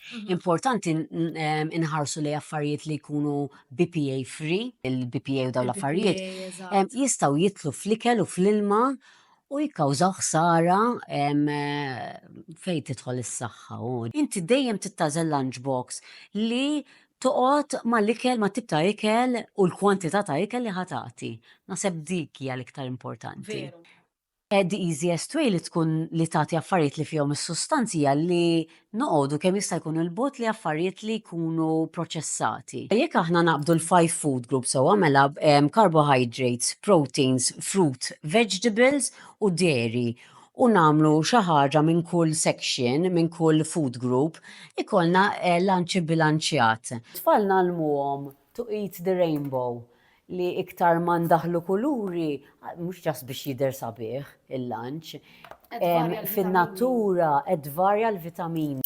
Mhm. Importanti inħarsu li affarijiet li jkunu BPA free, il-BPA u daw l-affarijiet, jistaw jitlu fl-ikel u fl-ilma u jikkawżaw ħsara fejn tidħol is-saħħa. Inti dejjem tittażel lunchbox li toqgħod mal-ikel ma' tibta ikel u l-kwantità ta' ikel li ħatati. Naseb dik hija l-iktar importanti. The easiest way li tkun li tagħti affarijiet li fihom is-sustanz hija li noqogħdu kemm jista' jkun 'il bogħod li affarijiet li jkunu proċessati. Jekk aħna naqbdu l-five food groups sewwa mela carbohydrates, proteins, fruit, vegetables u dairy u nagħmlu xi ħaġa minn kull section, minn kull food group, ikollna lunch ibbilanċjat. It-tfal ngħallmuhom to eat the rainbow. li iktar ma ndaħħlu kuluri, mhux ġast biex jidher sabiħ il-lanċ, fin-natura qed tvarja l-vitamini.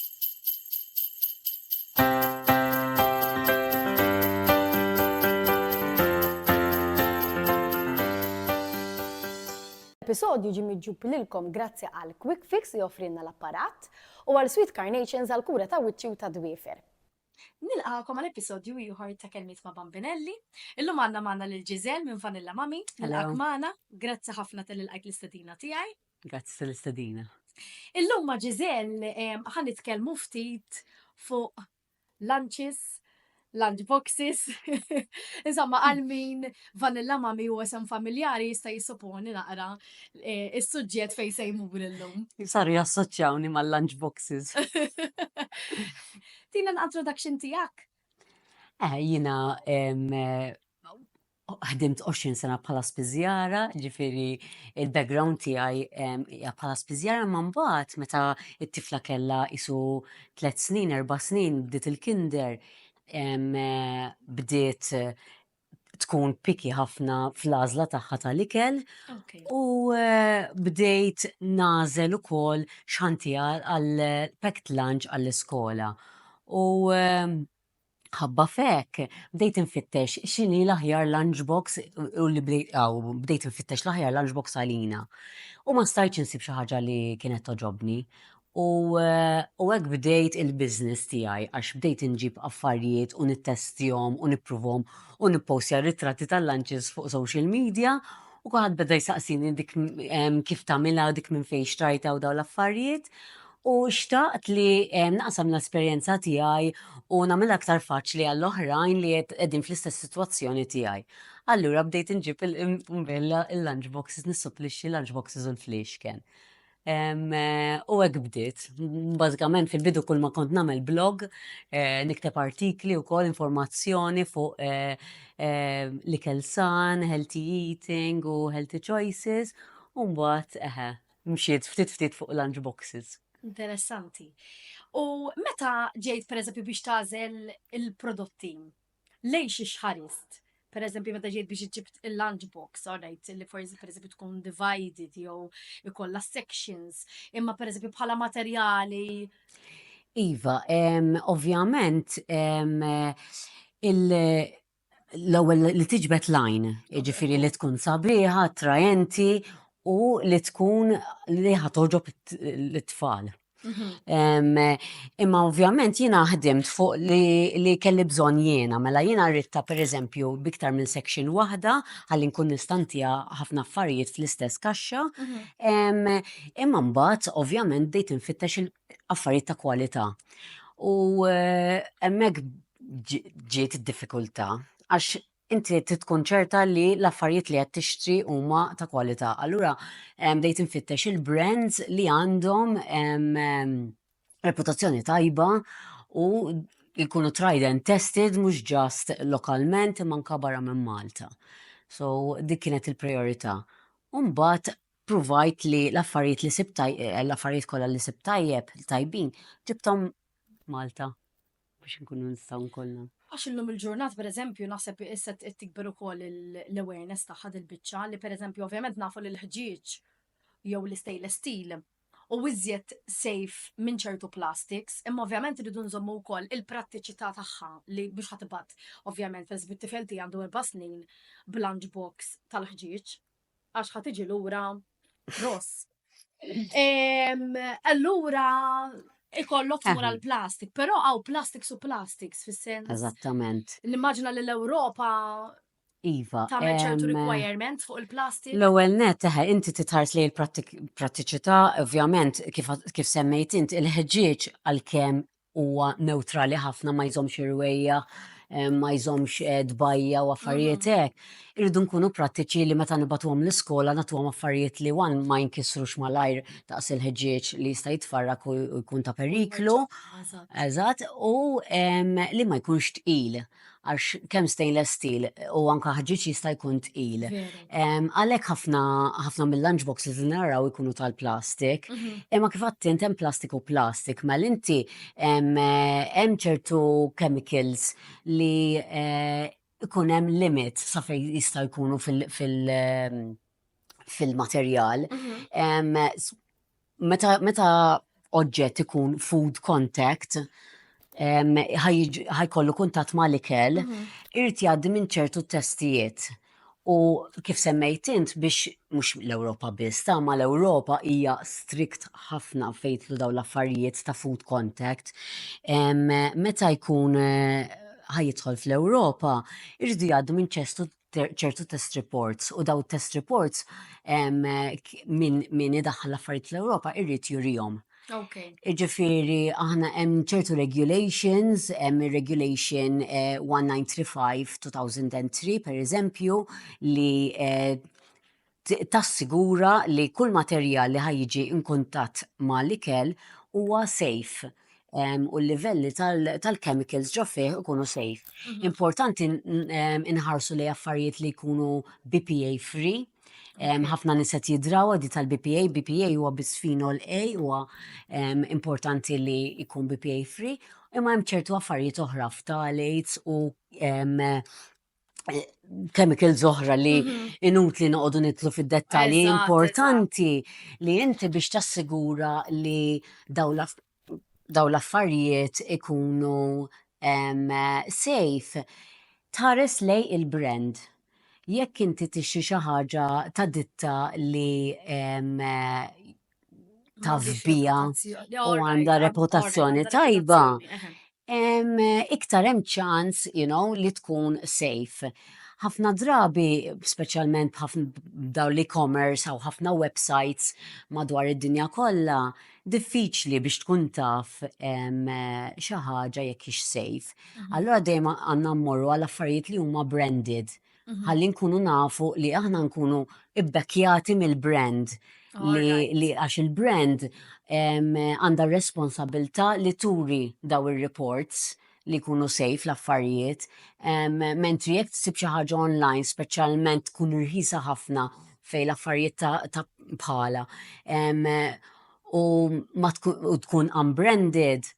L-episodju ġie miġjub lilkom grazzi għal Quick Fix li offrielna l-apparat u għal Sweet Carnations għall-kura ta' wiċċi u tad-dwiefer. Nilqagħkom għal episodju ieħor ta' Kelmiet ma' Bambinelli. Illum għandna magħna lil Giselle minn Vanilla Mami. Nilqgħak magħna. Grazzi ħafna tal ilqajt l-istedina tiegħi. Grazzi tal-istedina. Illum ma' Giselle ħa nitkellmu ftit fuq lunches, lunch boxes. Insomma, għal min vanilla mami u għasem familjari jista' jissoponi naqra eh, is-suġġett fejn se jmur illum. Saru jassoċjawni mal-lunch boxes. Tina l-introduction tiegħek. Eh, jiena ħdimt 20 sena bħala spiżjara, ġifiri il-background tiegħi hija bħala spiżjara ma mbagħad meta t-tifla kellha isu tliet snin, erba' snin bdiet il-kinder bdiet tkun piki ħafna fl-għażla tagħha tal-ikel u eh, bdejt nażel ukoll xantija għal packed lunch għall-iskola. U eh, ħabba fek, bdejt infittex xini l-aħjar lunchbox u li bdejt infittex l-aħjar lunchbox għalina. U ma stajċ insib xi ħaġa li kienet toġobni. U u hekk bdejt il-business tiegħi għax bdejt inġib affarijiet u nittestjahom u nippruvahom u nippostja r-ritratti tal-lunches fuq social media u kulħadd beda jsaqsini dik kif tagħmilha u dik minn fejn xtrajtha u dawn l-affarijiet u xtaqt li naqsam l-esperjenza tiegħi u nagħmilha aktar faċli għall-oħrajn li qegħdin fl-istess sitwazzjoni tiegħi. Allura bdejt inġib il-lunch boxes, nissuplixxi l-lunch boxes u l-fliexken. U hekk bdiet. Bażikament fil-bidu kull ma kont nagħmel blog, eh, nikteb artikli wkoll informazzjoni fuq eh, eh, l-ikel san, healthy eating u healthy choices, u mbagħad eħe, mxiet ftit ftit fuq lunch boxes. Interessanti. U meta ġejt pereżempju biex tażel il-prodotti, lejn xi xħarist, pereżempju meta ġejt biex iġġib il-lunch box, alright, li forsi pereżempju tkun divided jew ikollha sections, imma pereżempju bħala materjali. Iva, ovvjament l-ewwel li tiġbed lajn, jiġifieri li tkun sabiħa, attraenti u li tkun li ħatoġob l-tfal. Mhm. Imma ovvjament jiena ħdimt fuq li kelli bżonn jiena, mela jiena rritta per eżempju biktar minn section waħda għalli nkun nistantija ħafna affarijiet fl-istess kaxxa. Mhm. Imma mbagħad ovvjament bdejt infittex affarijiet ta' kwalità. U eh, hemmhekk ġiet id-diffikultà għax inti trid tkun ċerta li l-affarijiet li qed tixtri huma ta' kwalità. Allura bdejt infittex il-brands li għandhom reputazzjoni tajba u jkunu tried and tested mhux just lokalment imma anke barra minn Malta. So dik kienet il-prijorità. U mbagħad pruvajt li l-affarijiet li sibt l-affarijiet kollha li sibt tajjeb, tajbin, ġibthom Malta. biex inkunu nistgħu nkollna. Għax illum il-ġurnata pereżempju naħseb issa qed tikber ukoll l-awareness tagħha dil-biċċa li pereżempju ovvjament nafu li l-ħġieġ jew l-istainless steel hu iżjed safe minn ċertu plastiks, imma ovvjament irridu nżommu wkoll il-prattiċità tagħha li mhux ħa tibgħat ovvjament, pereżempju t-tifel tiegħi għandu erba' snin b'lunch box tal-ħġieġ. għax ħa tiġi lura ross. Allura ikollok tmur għal plastik, però għaw plastik su plastiks fis-sens. Eżattament. Nimmaġina li l-Ewropa Iva. Tamen ċertu requirement fuq il-plastik? L-ewel net, teħe, inti titħars li l-prattiċità, ovvjament, kif semmejt int, il-ħġieġ għal-kem huwa newtrali ħafna ma jżommx irwejja, ma jżommx eh, dbajja u affarijiet mhm. hekk. Irridu nkunu prattiċi li meta nibatuhom l-iskola nagħtuhom affarijiet li wan ma jinkisrux malajr taqs il-ħġieġ li jista' jitfarrak u jkun ta' periklu. Eżatt, u li ma jkunx tqil. għax kemm stainless steel u anka ħġieġ jista' jkun tqil. Għalhekk ħafna ħafna mill-lunch boxes li naraw ikunu tal-plastik. Mhm. Imma kif għadt int hemm plastik u plastik, mal mela inti hemm ċertu chemicals li eh, ikun hemm limit sa fejn jista' jkunu fil- fil- fil-materjal. Mhm. Meta, meta oġġett ikun food contact, ħajkollu kuntat ma' l-ikel, mhm. irti jgħaddi minn ċertu testijiet. U kif semmejt int biex mhux l-Ewropa biss, ta' ma l-Ewropa hija strikt ħafna fejtlu daw l-affarijiet ta' food contact. Meta jkun eh, ħajidħol fl-Ewropa, irridu jgħaddu minn ċestu ċertu test reports u daw test reports minn idaħħal l-affarijiet fl-Ewropa irrid jurihom. Okay. Ġifiri, aħna hemm ċertu regulations, hemm regulation 1935-2003 eh, per eżempju, li eh, Tassigura li kull materjal li ħa jiġi inkuntatt ma' l-ikel huwa safe u l-livelli tal-chemicals ġo fih ikunu safe. Importanti inħarsu li affarijiet li jkunu BPA free, ħafna nies qed jidrawa di tal-BPA, BPA huwa bisfenol A huwa importanti li jkun BPA free, imma hemm ċertu affarijiet oħra, phthalates u chemicals oħra li mhm. inut li noqogħdu nitlu fid-dettalji importanti li inti biex tassigura li daw l-affarijiet ikunu safe tħares lej il-brand. Jekk inti tixi xi ħaġa ta' ditta li tafbija u għandha reputazzjoni tajba, iktar hemm ċans you know, li tkun safe. Ħafna drabi, speċjalment b'dawn l-e-commerce u ħafna websites madwar id-dinja kollha, diffiċli biex tkun taf xi ħaġa jekk hix safe. Allura dejjem għandna mmorru għal affarijiet li huma branded. ħalli nkunu nafu li aħna nkunu ibbekkjati mill-brand li għax il-brand għandha responsabilta li turi daw ir-reports li kunu sejf l-affarijiet, mentri jekk tsib xi ħaġa online speċjalment tkun irħisa ħafna fej l-affarijiet ta' bħala u tkun unbranded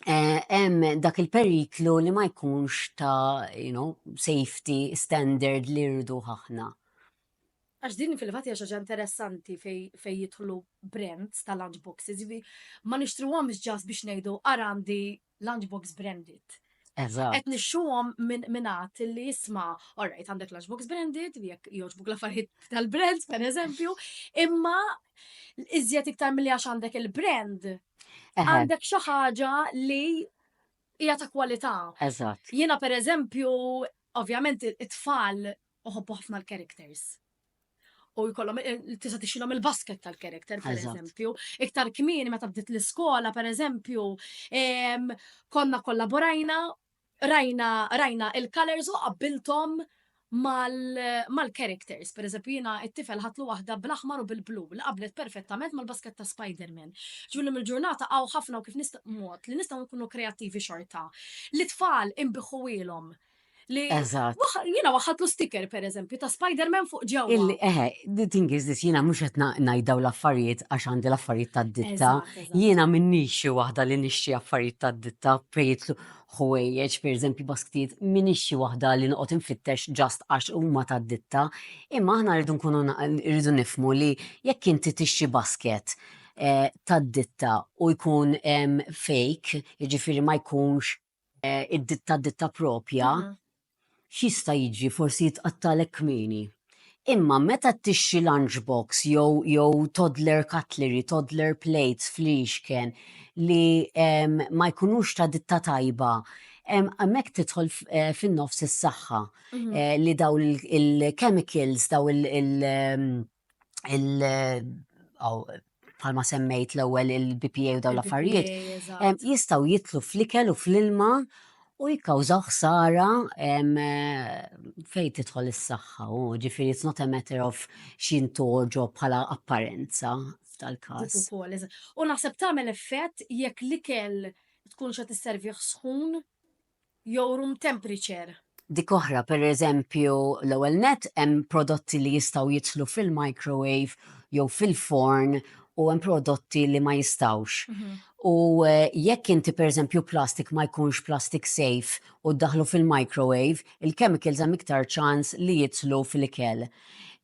hemm eh, dak il-periklu li ma jkunx ta' you know, safety standard li rridu ħafna. Għax din fil-fat hija xaġa interessanti fej jidħlu brands ta' lunchboxes, jiġifieri ma nixtruhomx ġas biex ngħidu ara għandi lunchbox branded. Eżatt. Qed nixxuhom minn għat li jisma' orajt għandek lunchbox branded, jekk jogħġbuk l-affarijiet tal-brands pereżempju, imma iżjed iktar milli għax għandek il-brand Għandek xi ħaġa li hija ta' kwalità. Eżatt. Jiena pereżempju, ovvjament it-tfal uħobbu ħafna l-characters. U jkollhom eh, tista' tixilhom il-basket tal-character, per eżempju. Iktar kmini meta bdiet l-iskola, per eżempju, konna kollaborajna rajna rajna il-colors u qabbilthom mal-characters, per eżempju jina it-tifel ħatlu waħda bl-aħmar u bil-blu, li qablet perfettament mal-basket ta' Spider-Man. Ġulli mill-ġurnata għaw ħafna u kif nista' mod li nistaw nkunu kreativi xorta. Li tfal imbiħu ilhom. Li jina waħadlu sticker per eżempju ta' Spider-Man fuq ġew. Illi, eħe, the thing is this, jina mux qed najdaw l-affarijiet għax għandi l-affarijiet ta' ditta. Jina minni xi waħda li nixtri affarijiet ta' ditta fejtlu. ħwejjeġ, pereżempju basktijiet, m'iniex xi waħda li noqgħod infittex ġast għax huma ta' ditta, imma aħna rridu nkunu rridu nifhmu li jekk inti tixtri basket eh, ta' ditta u jkun fake, jiġifieri ma jkunx eh, id-ditta ditta propja, mhm. X'jista' jiġri forsi jitqattgħalek kmieni. Imma meta tixtri lunch box jew jew toddler cutlery, toddler plates fl-ixken li ma jkunux ta' ditta tajba, hemmhekk tidħol fin-nofs is-saħħa li dawn il-chemicals, dawn il- il bħalma semmejt l-ewwel il-BPA u dawn l-affarijiet, jistgħu jitlu fl-ikel u fl-ilma u jikkawżaw ħsara fejn tidħol is-saħħa u ġifieri it's not a matter of x'jintoġo bħala apparenza f'tal-każ. U naħseb tagħmel effett jekk l-ikel tkun xa tisservih sħun. jew room temperature. Dik oħra, pereżempju, l-ewwel nett hemm prodotti li jistgħu jidħlu fil-microwave jew fil-forn u hemm prodotti li ma jistgħux. U eh, jekk inti pereżempju plastik ma jkunx plastik safe u ddaħlu fil-microwave, il-chemicals hemm iktar ċans li jidħlu fil-ikel.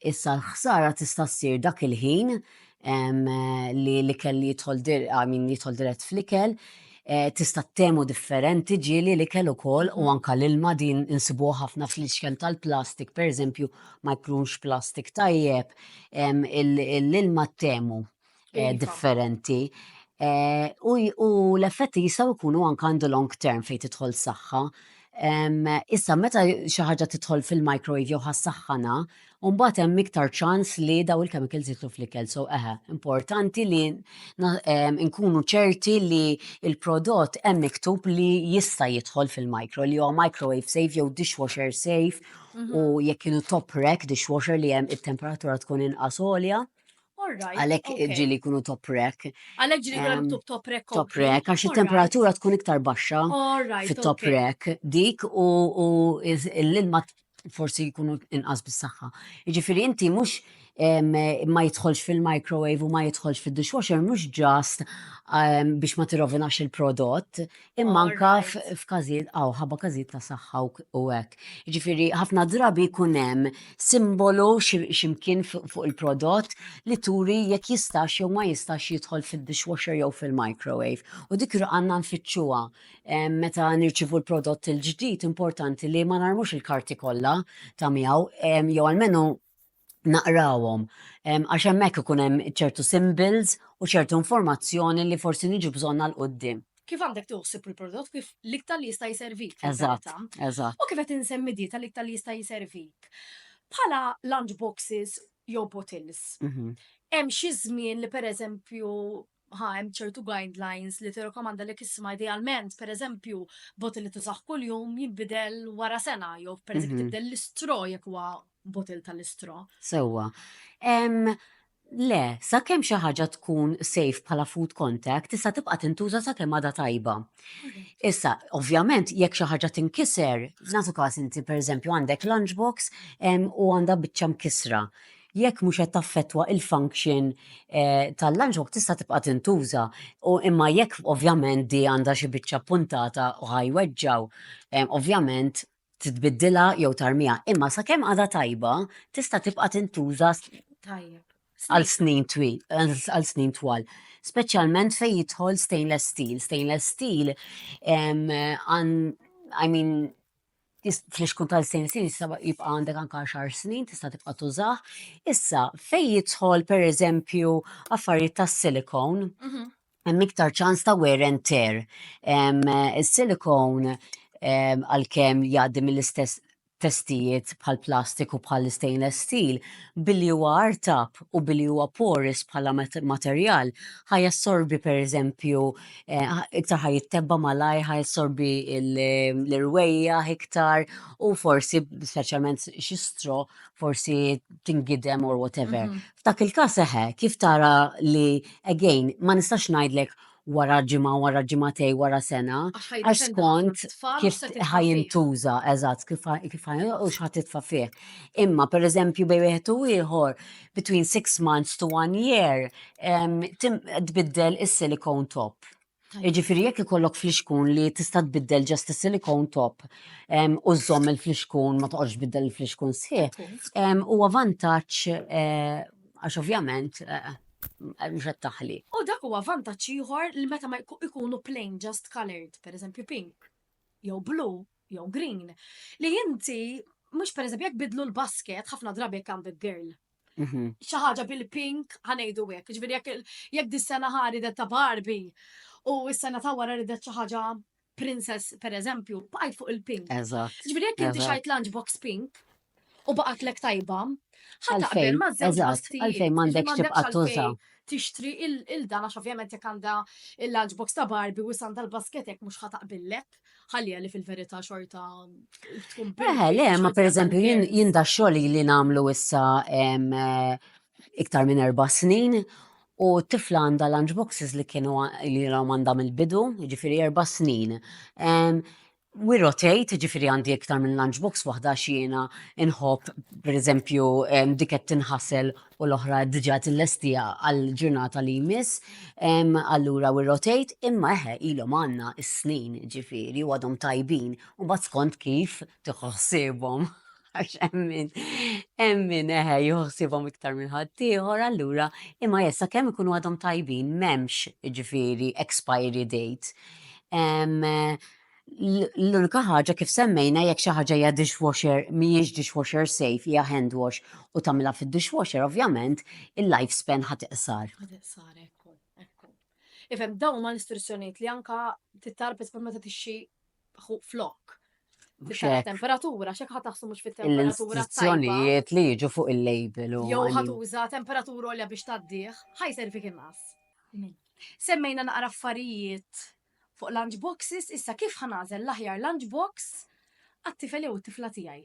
Issa l-ħsara tista' ssir dak il-ħin li l-ikel li jidħol għamin jidħol dirett fl-ikel, eh, tista' temu differenti ġieli l-ikel ukoll u anka l-ilma din insibu ħafna fl-iċken tal-plastik, per eżempju, ma jkunx plastik tajjeb, l-ilma temu eh, iva. differenti. Eh, u l-effetti jistaw ikunu anka għandu long term fejn tidħol saħħa. Issa, meta xi ħaġa tidħol fil-microwave jew ħassaħħana, U mbagħad hemm iktar ċans li daw il-chemicals jidħlu fl-ikel. So eħe, importanti li nkunu ċerti li il-prodott hemm miktub li jista' jidħol fil-micro, li huwa microwave safe jew dishwasher safe mhm. u jekk kienu top rack dishwasher li hemm it-temperatura tkun inqas għolja. Għalek ġili kunu top rack. Għalek ġili kunu top rack. Top rack, għax il-temperatura tkun iktar baxxa fit-top rack dik u l-ilma forsi jkunu inqas bis-saħħa. Jiġifieri inti mhux ma jidħolx fil-microwave u ma jidħolx fid-dishwasher mhux ġast biex ma tirrovinax il-prodott, imma anka f'każijiet għaw ħabba każijiet ta' saħħa u hekk. Jiġifieri ħafna drabi jkun hemm simbolu x'imkien fuq il-prodott li turi jekk jistax jew ma jistax jidħol fid-dishwasher jew fil-microwave. U dik għandna nfittxuha. meta nirċivu l-prodott il-ġdid importanti li ma narmux il-karti kollha ta' miegħu jew almenu naqrawhom għax hemmhekk ikun hemm ċertu symbols u ċertu informazzjoni li forsi niġu bżonn għal quddiem. Kif għandek tuħsib il-prodott kif l-iktar li jista' jservik. Eżatt, eżatt. U kif qed insemmi dieta l-iktar li jista' jservik. Bħala lunch boxes jew bottles. Mhm. Hemm xi żmien li pereżempju ħa hemm ċertu guidelines li tirrakomanda li kisma idealment, per eżempju, botil li tużaħ kuljum jinbidel wara sena, jew per eżempju mhm. tibdel l-istro jekk huwa botil tal-istro. Sewwa. Le, sa kemm xi ħaġa tkun safe bħala food contact, issa tibqa' tintuża sa kemm għadha tajba. Mhm. Issa, ovvjament, jekk xi ħaġa tinkiser, f'nasu każ inti pereżempju għandek lunchbox u għandha biċċa mkisra. jekk mhux qed taffettwa l-function tal-lunchbox tista' tibqa' tintuża u imma jekk ovvjament di għandha xi biċċa ppuntata u ħa jweġġgħu ovvjament tbiddilha jew tarmiha. Imma sakemm għadha tajba tista' tibqa' tintuża għal snin twil, għal snin twal. Speċjalment fejn jidħol stainless steel. Stainless steel I mean fl-ixkun tal-snin snin issa jibqa' għandek anke għaxar snin tista' tibqa' tużah. Issa fejn jidħol pereżempju affarijiet tas-silikon, mhm. hemm iktar ċans ta' wear and tear. Is-silikon għalkemm jgħaddi mill-istess testijiet bħal plastik u bħal stainless steel billi huwa artab u billi huwa porous bħala materjal ħaj jassorbi pereżempju iktar ħa jittebba malajr, ħa jissorbi l-irwejja iktar u forsi, speċjalment xi stro, forsi tingidem or whatever. Mhm. F'dak il-każ eħe, kif tara li, again, ma nistax ngħidlek wara ġimgħa, wara ġimgħatej, wara sena, għax skont kif ħajintuża, eżatt, kif ħajintuża u xħat titfa fih. Imma, per eżempju, bej wieħed u ieħor, between six months to one year, tbiddel is-silicone top. Jiġifieri jekk ikollok flixkun li tista' tbiddel ġast is-silicone top u żżomm il-flixkun ma toqgħodx tbiddel il-flixkun sħiħ, huwa vantaġġ għax ovvjament mhux qed taħli. U dak huwa vantaġġ ieħor li meta ikunu plain just coloured, pereżempju pink jew blue, jew green, li inti mhux pereżempju jekk bidlu l-basket ħafna drabi jekk għandek girl. Mhm. Xi ħaġa bil-pink ħanejdu hekk, ġifieri jekk jekk dis-sena ħari ta' Barbie u s-sena ta' wara ridet xi ħaġa princess pereżempju, bqajt fuq il-pink. Eżatt. Ġifieri jekk inti eżatt. xajt lunchbox pink, u baqatlek tajba, ħa taqbel ma' żewġ bastijiet. Għalfejn m'għandekx tibqa' tuża. Tixtri il-dan għax ovvjament jekk għandha il-lunchbox ta' Barbie u għandha l-basket hekk mhux ħa taqbillek. Ħallija li fil-verità xorta tkun bil. Eh, le, ma pereżempju jien jien da xogħol li nagħmlu issa eh, iktar minn erba' snin U tifla għandha lunchboxes li kienu li għandha mill-bidu, ġifiri erba snin. We rotate, ġifiri għandi iktar minn lunchbox waħda xiena nħobb, per eżempju, dik qed tinħasel u l-oħra diġà tillestija għall-ġurnata li jmiss, allura we rotate, imma eħe ilhom għandna s-snin ġifiri u għadhom tajbin u mbagħad skont kif tieħu ħsiebhom. Għax emmin, emmin eħe juħsibom iktar minn ħaddieħor, allura imma jessa kemm ikunu għadhom tajbin m'hemmx ġifieri expiry date. L-unika ħaġa kif semmejna jekk xi ħaġa hija dishwasher mhijiex dishwasher safe hija hand wash u tagħmilha fid-dishwasher ovvjament il-life span ħadd iqsar. Ħadd iqsar ekku, ekku. Ifhem dawn ma l-istruzzjonijiet li anka tittarpet meta tixxi flok. Temperatura, xek ħat taħsu mux fit-temperatura. L-istruzzjonijiet li jiġu fuq il-label. Jow ħat uża temperatura olja biex taddiħ, ħaj servi kien nas. Semmejna naqra affarijiet fuq lunchboxes, issa kif ħanazel l-aħjar lunchbox għat-tifel jew it-tifla tiegħi.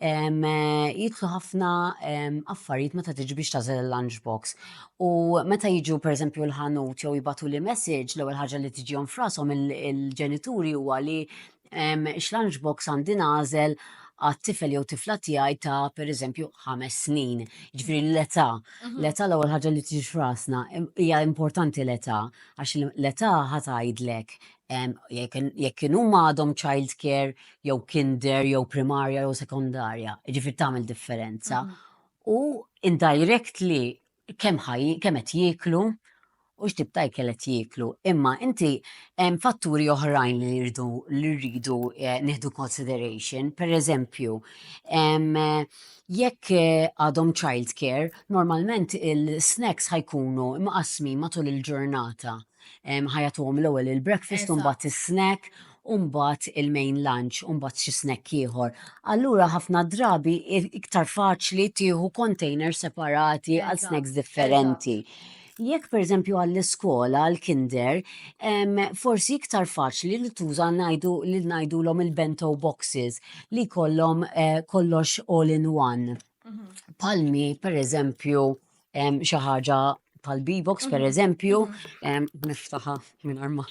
jidħlu ħafna affarijiet meta tiġi biex tażel il-lunch box. U meta jiġu pereżempju l-ħanut jew jibatu li message l-ewwel ħaġa li tiġihom frasom il-ġenituri huwa li x-lunch box għandi nażel għat-tifel jew tifla tiegħi ta' pereżempju ħames snin. Ġifieri l-età, mhm. l-età l-ewwel ħaġa li tiġi frasna hija importanti l-età għax l-età ħatajdlek jekk kien huma għadhom childcare jew kinder jew primarja jew sekondarja, ġifir tagħmel differenza. U indirectly kemm ħaj kemm qed jieklu u x'tib ta' ikel qed jieklu. Imma inti hemm fatturi oħrajn li rridu li rridu eh, nieħdu consideration, per eżempju, jekk eh, għadhom childcare, normalment il-snacks ħajkunu imqasmi matul il-ġurnata. ħajatuhom l-ewwel il-breakfast u mbagħad is-snack u mbagħad il-main lunch u mbagħad xi snack ieħor. Allura ħafna drabi iktar faċli tieħu container separati għal snacks differenti. Jekk per eżempju għall-iskola, għall-kinder, forsi iktar faċli li tuża najdu li najdu l-om il-bento boxes li kollom eh, kollox all in one. Mhm. Palmi, per eżempju, em, xi ħaġa tal-B-box per eżempju, em, niftaħa minn arma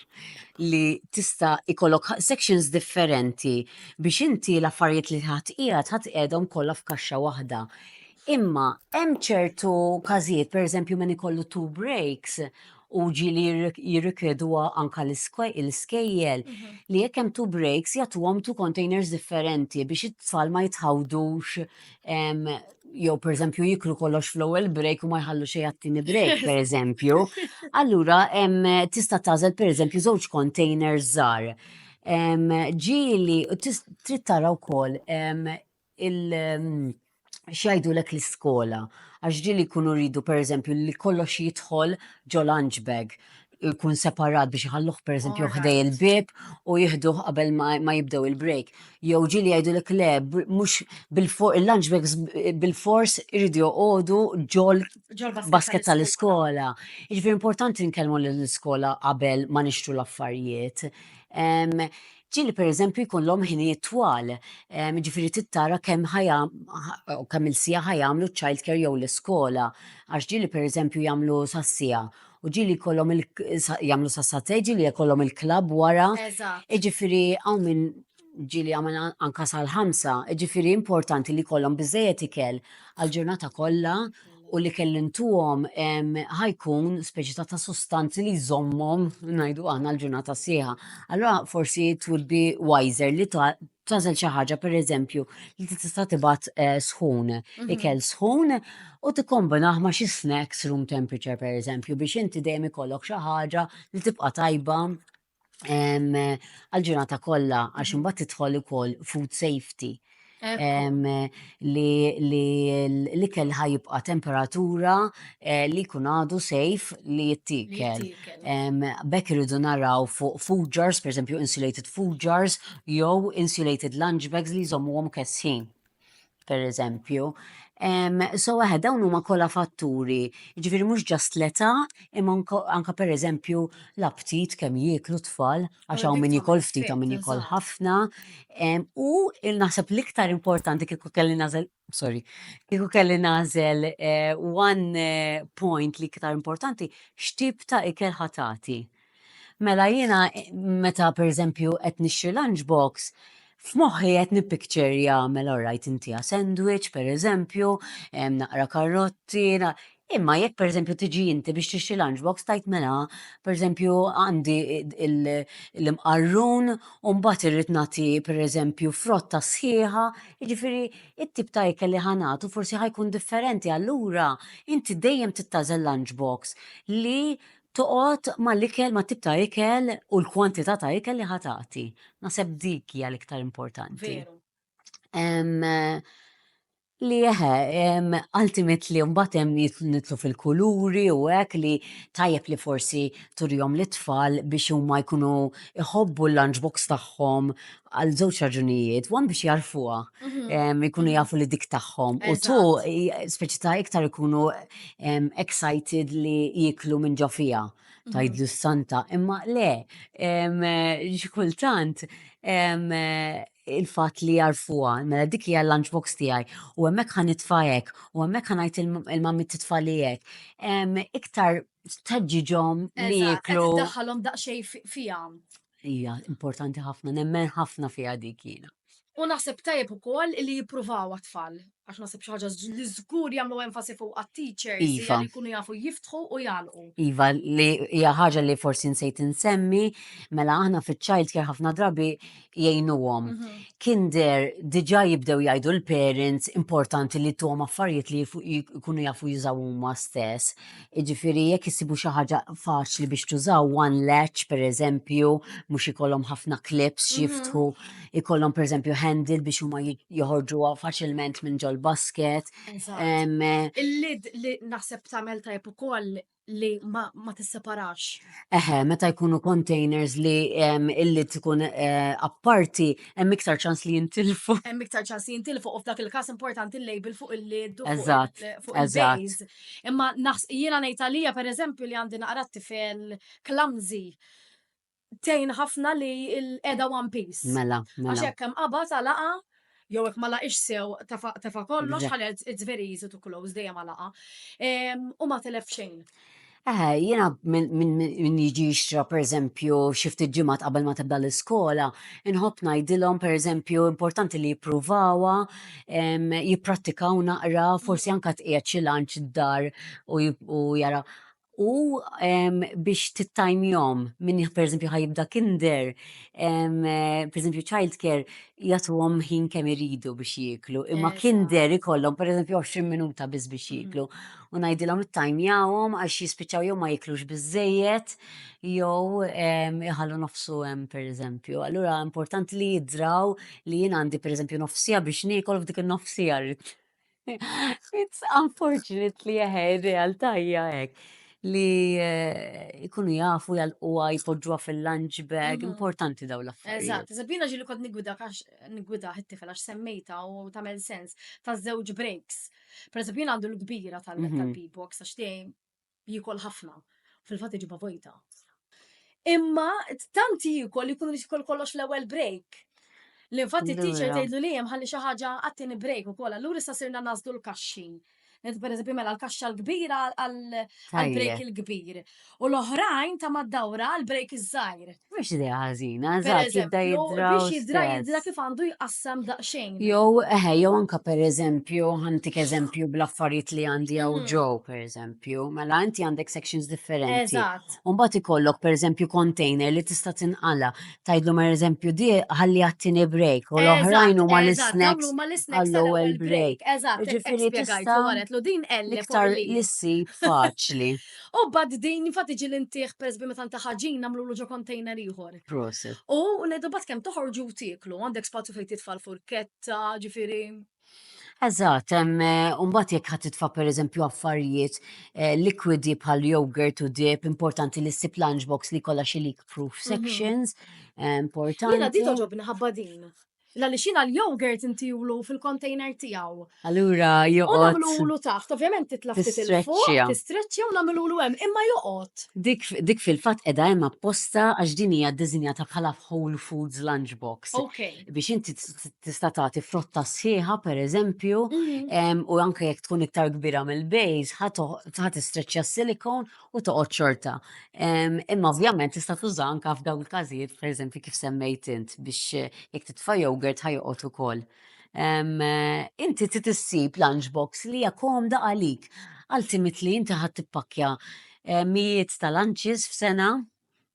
li tista' ikollok ħa- sections differenti biex inti l-affarijiet li ħadd qiegħed ħadd qiegħedhom kollha f'kaxxa waħda. Imma hemm ċertu każijiet, per eżempju, min ikollu two breaks, u ġieli jirrikjeduha anke l-iskejjel li jekk hemm two breaks jagħtuhom two containers differenti biex it-tfal ma jitħawdux jew pereżempju jiklu kollox fl-ewwel break u ma jħallu xejn għat-tieni break pereżempju. Allura tista' tagħżel pereżempju żewġ containers żgħar. Ġieli trid tara wkoll il- x'jgħidulek l-iskola, għax ġieli jkunu jridu pereżempju li kollox jidħol ġo lunch bag, jkun separat biex iħalluh pereżempju ħdej il-bieb u jieħduh qabel ma jibdew il-break. Jew ġieli jgħidulek le, mhux il-lunch bags bil-fors iridu joqogħdu ġol-basket tal-iskola. Jiġifieri importanti nkellmu lill-iskola qabel ma nixtru l-affarijiet. Ġieli li pereżempju jkollhom ħinijiet twal, jiġifieri trid tara kemm kemm il-siegħa ħa jagħmlu ċ-childcare jew l-iskola, għax ġieli pereżempju jagħmlu sas-siegħa u ġieli jkollhom il jagħmlu sas-satej, ġieli jkollhom il-klabb wara. Eżatt. Jiġifieri hawn min ġieli jagħmel anke sal-ħamsa, jiġifieri importanti li jkollhom biżżejjed ikel għall-ġurnata kollha u li kelli ntuhom ħajkun speċi ta' ta' sustanzi li jżommhom ngħidu aħna l-ġurnata sħiħa. Allura forsi it would be wiser li tażel xi ħaġa pereżempju li tista' tibgħat eh, sħun, mhm. ikel sħun u tikkombinah ma' xi snacks room temperature pereżempju biex inti dejjem ikollok xi ħaġa li tibqa' tajba għal-ġurnata kollha għax imbagħad tidħol ukoll food safety li l-ikel ħajibqa temperatura eh, li jkun għadu sejf li jittikel. Bekk irridu naraw fuq food jars, per insulated food jars, jew insulated lunch bags li jżommuhom kessin. per eżempju. Um, so għahe, dawn huma kollha fatturi, ġifiri mhux ġast l-età, imma anka per eżempju l-aptit kemm jieklu tfal, għax hawn min jikol ftit hawn min jikol ħafna. u naħseb l-iktar importanti kieku kelli nażel, sorry, kieku kelli nażel eh, one eh, point li iktar importanti, x'tip ta' ikel ħatati. Mela jiena meta pereżempju qed nixtri lunch box, f'moħħi qed nippicture jagħmel orrajt intiha sandwich pereżempju, naqra karrotti, imma jekk pereżempju tiġi inti biex tixtri lunch box tgħid mela pereżempju għandi l-imqarrun u mbagħad irrid nagħti pereżempju frotta sħiħa, jiġifieri t-tip ta' ikel li ħa nagħtu forsi ħa jkun differenti allura inti dejjem tittażel lunch box li Toqgħod mal-ikel, mat-tip ta' ikel u l-kwantità ta' ikel li ħa tagħti. Naħseb dik hija l-iktar importanti. Li eħe, ultimately mbagħad hemm nidħlu fil-kuluri u hekk li tajjeb li forsi turihom lit-tfal biex huma jkunu jħobbu l-lunch box tagħhom għal żewġ raġunijiet, wan biex jarfuha, mhm. ikunu mhm. jafu li dik tagħhom. U tu speċi ta' iktar ikunu excited li jiklu minn ġo fija mhm. tajdlu s-santa. Imma le, xikultant, il-fat li jarfuha, mela dik hija l-lunchbox tiegħi u hemmhekk ħan nitfajek u hemmhekk ħan ngħid il-mammi titfalijek. Iktar tħeġġiġhom li jiklu. Daħħalhom daqsxejn fihom. Hija importanti ħafna, nemmen ħafna fiha dik jiena. U naħseb tajjeb ukoll li jippruvaw għat-tfal, għax naħseb xi ħaġa li żgur jagħmlu enfasi fuq għat-teachers li iva. jkunu jafu jiftħu u jagħlqu. Iva, li hija ħaġa li forsi nsejt insemmi, mela aħna fiċ-child care ħafna drabi jgħinuhom. Mhm. Kien der diġà jibdew jgħidu l-parents importanti li tuhom affarijiet li jkunu jafu jużaw huma stess. Jiġifieri jekk issibu xi ħaġa faċli biex tużaw one latch pereżempju, mhux ikollhom ħafna clips x'jiftħu, ikollhom pereżempju handle biex huma joħorġuha faċilment minn ġol-basket. Il-lid li naħseb tagħmel tajjeb ukoll li ma tisseparax. Eħe, meta jkunu containers li illi tkun eh, apparti, hemm iktar ċans li jintilfu. Hemm iktar ċans li jintilfu u f'dak il-każ importanti l-label fuq il-lid. Eżatt, eżatt. Imma naħs jiena ngħid għalija pereżempju li għandi naqra t-tifel clumsy tejn ħafna li l-qeda one piece. Mela, Għax mela. hekk hemm qabad għalaqa jew hekk ma laqix sew tefa' tefa' kollox Eżatt. ħalel it's very easy to close dejjem għalaqa. Em, U ma telef xejn. Eh, jiena minn min, min jiġi jixtra pereżempju xi ftit ġimgħat qabel ma tibda l-iskola, inħobb ngħidilhom pereżempju importanti li jippruvawha jipprattikaw naqra, forsi anke tqiegħed xi lunch d-dar u jara. U biex tittajmjom minn pereżempju ħajibda kinder, pereżempju childcare jagħtuhom ħin kemm iridu biex jieklu, imma kinder ikollhom pereżempju 20 minuta biss biex jieklu. U ngħidilhom ittajmjawhom għax jispiċċaw jew ma jiklux biżżejjed jew iħallu nofsu hemm pereżempju. Allura importanti li jidraw li jien għandi pereżempju nofs siegħa biex niekol f'dik in-nofs siegħa rrid. It's unfortunately eħe, ir-realtà hija hekk li eh, ikunu jafu jgħalquha jpoġġuha fil-lunch bag, Mhm. importanti daw l-affarijiet. Eżatt, Sabina ġili kont nigwida għax nigwida it-tifel għax semmejta u tagħmel sens ta' żewġ breaks. Per eżempju, jien għandu l-kbira tal- Mhm. tal-B-box għax tiegħi jiekol ħafna, fil-fatt iġibha vojta. Imma tant jiekol li jkun jiekol kollox l-ewwel break. Li fatt it-teacher tgħidlu li hemm ħalli xi ħaġa għat-tieni break ukoll. Allura issa sirna nażlu l-kaxxi. Per eżempju, mela l-kaxxa l-kbira għal-break il-kbir. U l-oħrajn ta' mad-dawra għal-break iż-żgħir. Mhux idea ħażina, Per eżatt jibda eżempju, jidra biex jidra jidra kif għandu jqassam daqsxejn. Jew, eħe, jew anka per eżempju, ħantik eżempju bl-affarijiet li għandi għaw Mhm. ġew, per eżempju, mela inti għandek sections differenti. Eżatt. Umbat ikollok per eżempju container li tista' tinqala. Tajdlu per eżempju di ħalli għattini break u l-oħrajn huma Eżatt, eżatt, l-snacks. dawn huma l-snacks għall-ewwel tal-ewwel break. break. Eżatt, hekk Jiġifieri spiegajtlu, tista' waretlu din L L-iktar li issib faċli. U mbagħad din infatti ġieli ntih pereżempju meta nta ħaġin nagħmlulu ġo container ieħor. Proset. U ngħidu bad kemm toħorġu u tieklu, għandek spazju fejn titfa' l-furketta, ġifieri. Eżatt, hemm eh, u mbagħad jekk ħadd titfa' pereżempju affarijiet eh, likwidi bħal yogurt u dip, importanti li ssib lunchbox li kollha xi leak proof sections, eh, importanti. Jiena din toġobni ħabba din. Għaliex jiena l-yogurt intiwlu fil-container tiegħu. Allura joqgħod. U nagħmlulu taħt, ovvjament titla' ftit il fuq, tistreċċja u nagħmlulu hemm, imma joqgħod. Dik fil-fatt qiegħda hemm apposta għax din hija ddisinjata bħala whole foods lunchbox. Biex inti tista' tagħti frotta sħiħa pereżempju, mhm. u anke jekk tkun iktar kbira mill-bejs, ħa tistreċċja s-silikon u toqgħod xorta. Imma ovvjament tista' tuża anke f'dawn il-każijiet, pereżempju kif semmejt int, biex eh, jekk titfa' jogurt ħajoqgħod ukoll. Inti trid issib lunchbox li hija komda għalik. Ultimately inti ħadd tippakkja eh, mijiet ta' lunches f'sena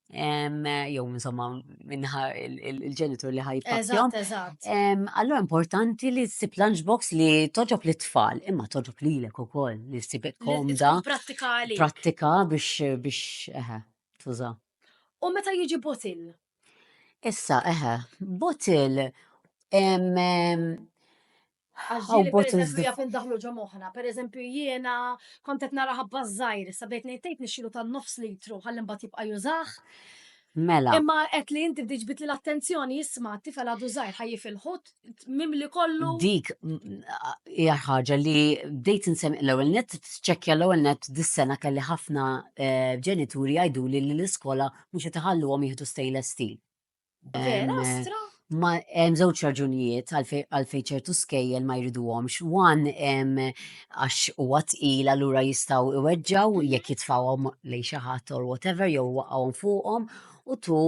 jew insomma minnaħa il-ġenitur li ħajpassjom. Allora importanti li ssib lunchbox li toġob li tfal, imma toġob li l-ek u koll, li ssib komda. Prattikali. Prattika biex biex eħe, tuża. U meta jiġi botil? Issa, eħe, botil Għax How ġieli bot is pereżempju this? jaf indaħlu ġo moħħna. Pereżempju jiena kont qed nara ħabba ż-żgħir, issa bdejt ngħid tgħid nixxielu tan-nofs litru ħalli mbagħad jibqa' jużah. Mela, Imma qed li inti bdejt ġbidli l-attenzjoni isma' t-tifel għadu żgħir ħaj jifilħu mimli kollu. dik mm, hija ħaġa li bdejt insem l-ewwel net tċekkja l-ewwel net dis-sena kelli ħafna eh, ġenituri jgħiduli li l-iskola mhux qed iħalluhom jieħdu stainless steel. Vera, stra? Ma hemm żewġ raġunijiet għalfejn ċertu skejjel ma jriduhomx. Wan għax huwa tqil allura jistgħu iweġġaw mhm. jekk jitfawhom lejn xi ħadd or whatever jew waqgħuhom fuqhom u tu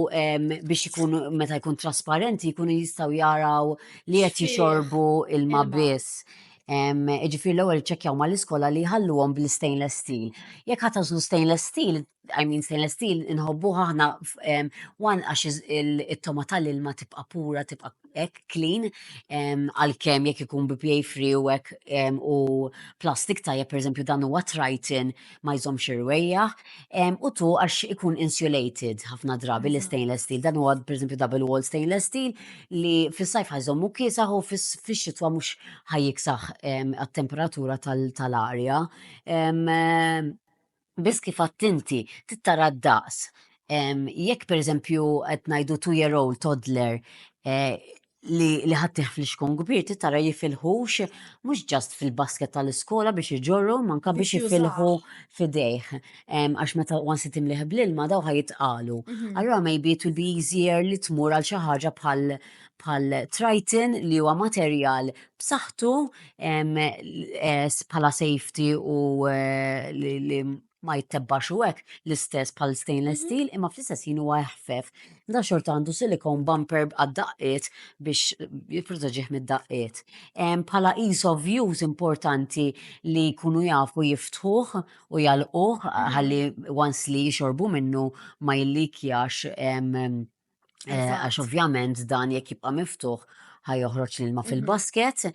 biex ikun meta jkun trasparenti jkunu jistgħu jaraw li qed jixorbu ilma biss. Ġifir l-ewwel ċekkjaw mal-iskola li jħalluhom bl-stainless steel. Jekk ħatażlu stainless steel, I mean stainless steel inħobbuha aħna one għax it-toma tal-ilma tibqa' pura tibqa' hekk clean għalkemm jekk ikun BPA free u hekk u plastik tajjeb pereżempju dan huwa Triton ma jżommx irwejjaħ u tu għax ikun insulated ħafna drabi l stainless steel dan huwa pereżempju double wall stainless steel li fis-sajf ħajżommu kiesaħ u fix-xitwa mhux ħajjiksaħ għat-temperatura tal-arja. Biss kif għedt inti, trid tara d-daqs. Jekk pereżempju qed ngħidu two year old, toddler, li ħaddtih fl-ixkun kbir trid tara jifilħux mhux just fil-basket tal-iskola biex iġorrhom anke biex jifilħu f'idejh. Għax meta once li timlih bl-ilma dawn ħa jitqalu. Allura maybe it will be easier li tmur għal xi ħaġa bħal bħal triton li huwa materjal b'saħħtu bħala safety u li ma jittebbax u hekk l-istess bħal stainless steel imma fl-istess ħin huwa eħfef. Da xorta għandu silicone bumper għad-daqqiet biex jipproteġih mid-daqqiet. Bħala ease of use importanti li jkunu jafu jiftħuh u jagħlquh ħalli once li jixorbu minnu ma jillikjax Eh, għax ovvjament dan jekk jibqa' miftuħ ħaj joħroġ l-ilma mhm. fil-basket,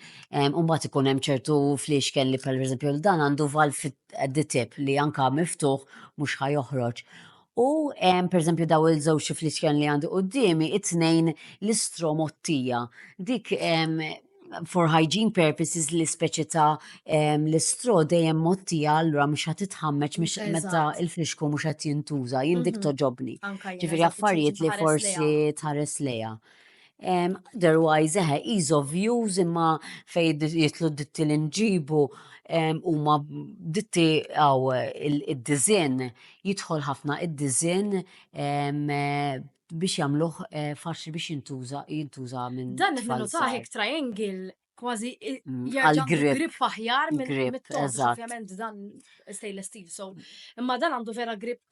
u mbagħad ikun hemm ċertu fliexken li per eżempju dan għandu val fit-tip li anka miftuħ mhux ħaj joħroġ. U per eżempju daw il-żewġ fliexken li għandu qudiemi, it-tnejn l-istromottija. Dik for hygiene purposes li speċi ta' l-istro dejjem mottija allura mhux ħadd titħammeġ mhux meta il-frixku mhux qed jintuża, jien dik mhm. toġobni. Ġifieri affarijiet li forsi tħares lejha. Otherwise, eħe, ease of use imma fej jitlu ditti li nġibu huma ditti għaw id-dizin, jidħol ħafna id-dizin biex jagħmluh eh, faċli biex jintuża jintuża minn. Dan qed ninutaħ hekk triangle kważi mm, għal-grip. Grip aħjar minn grip, ovvjament dan stainless steel, so imma dan għandu vera grip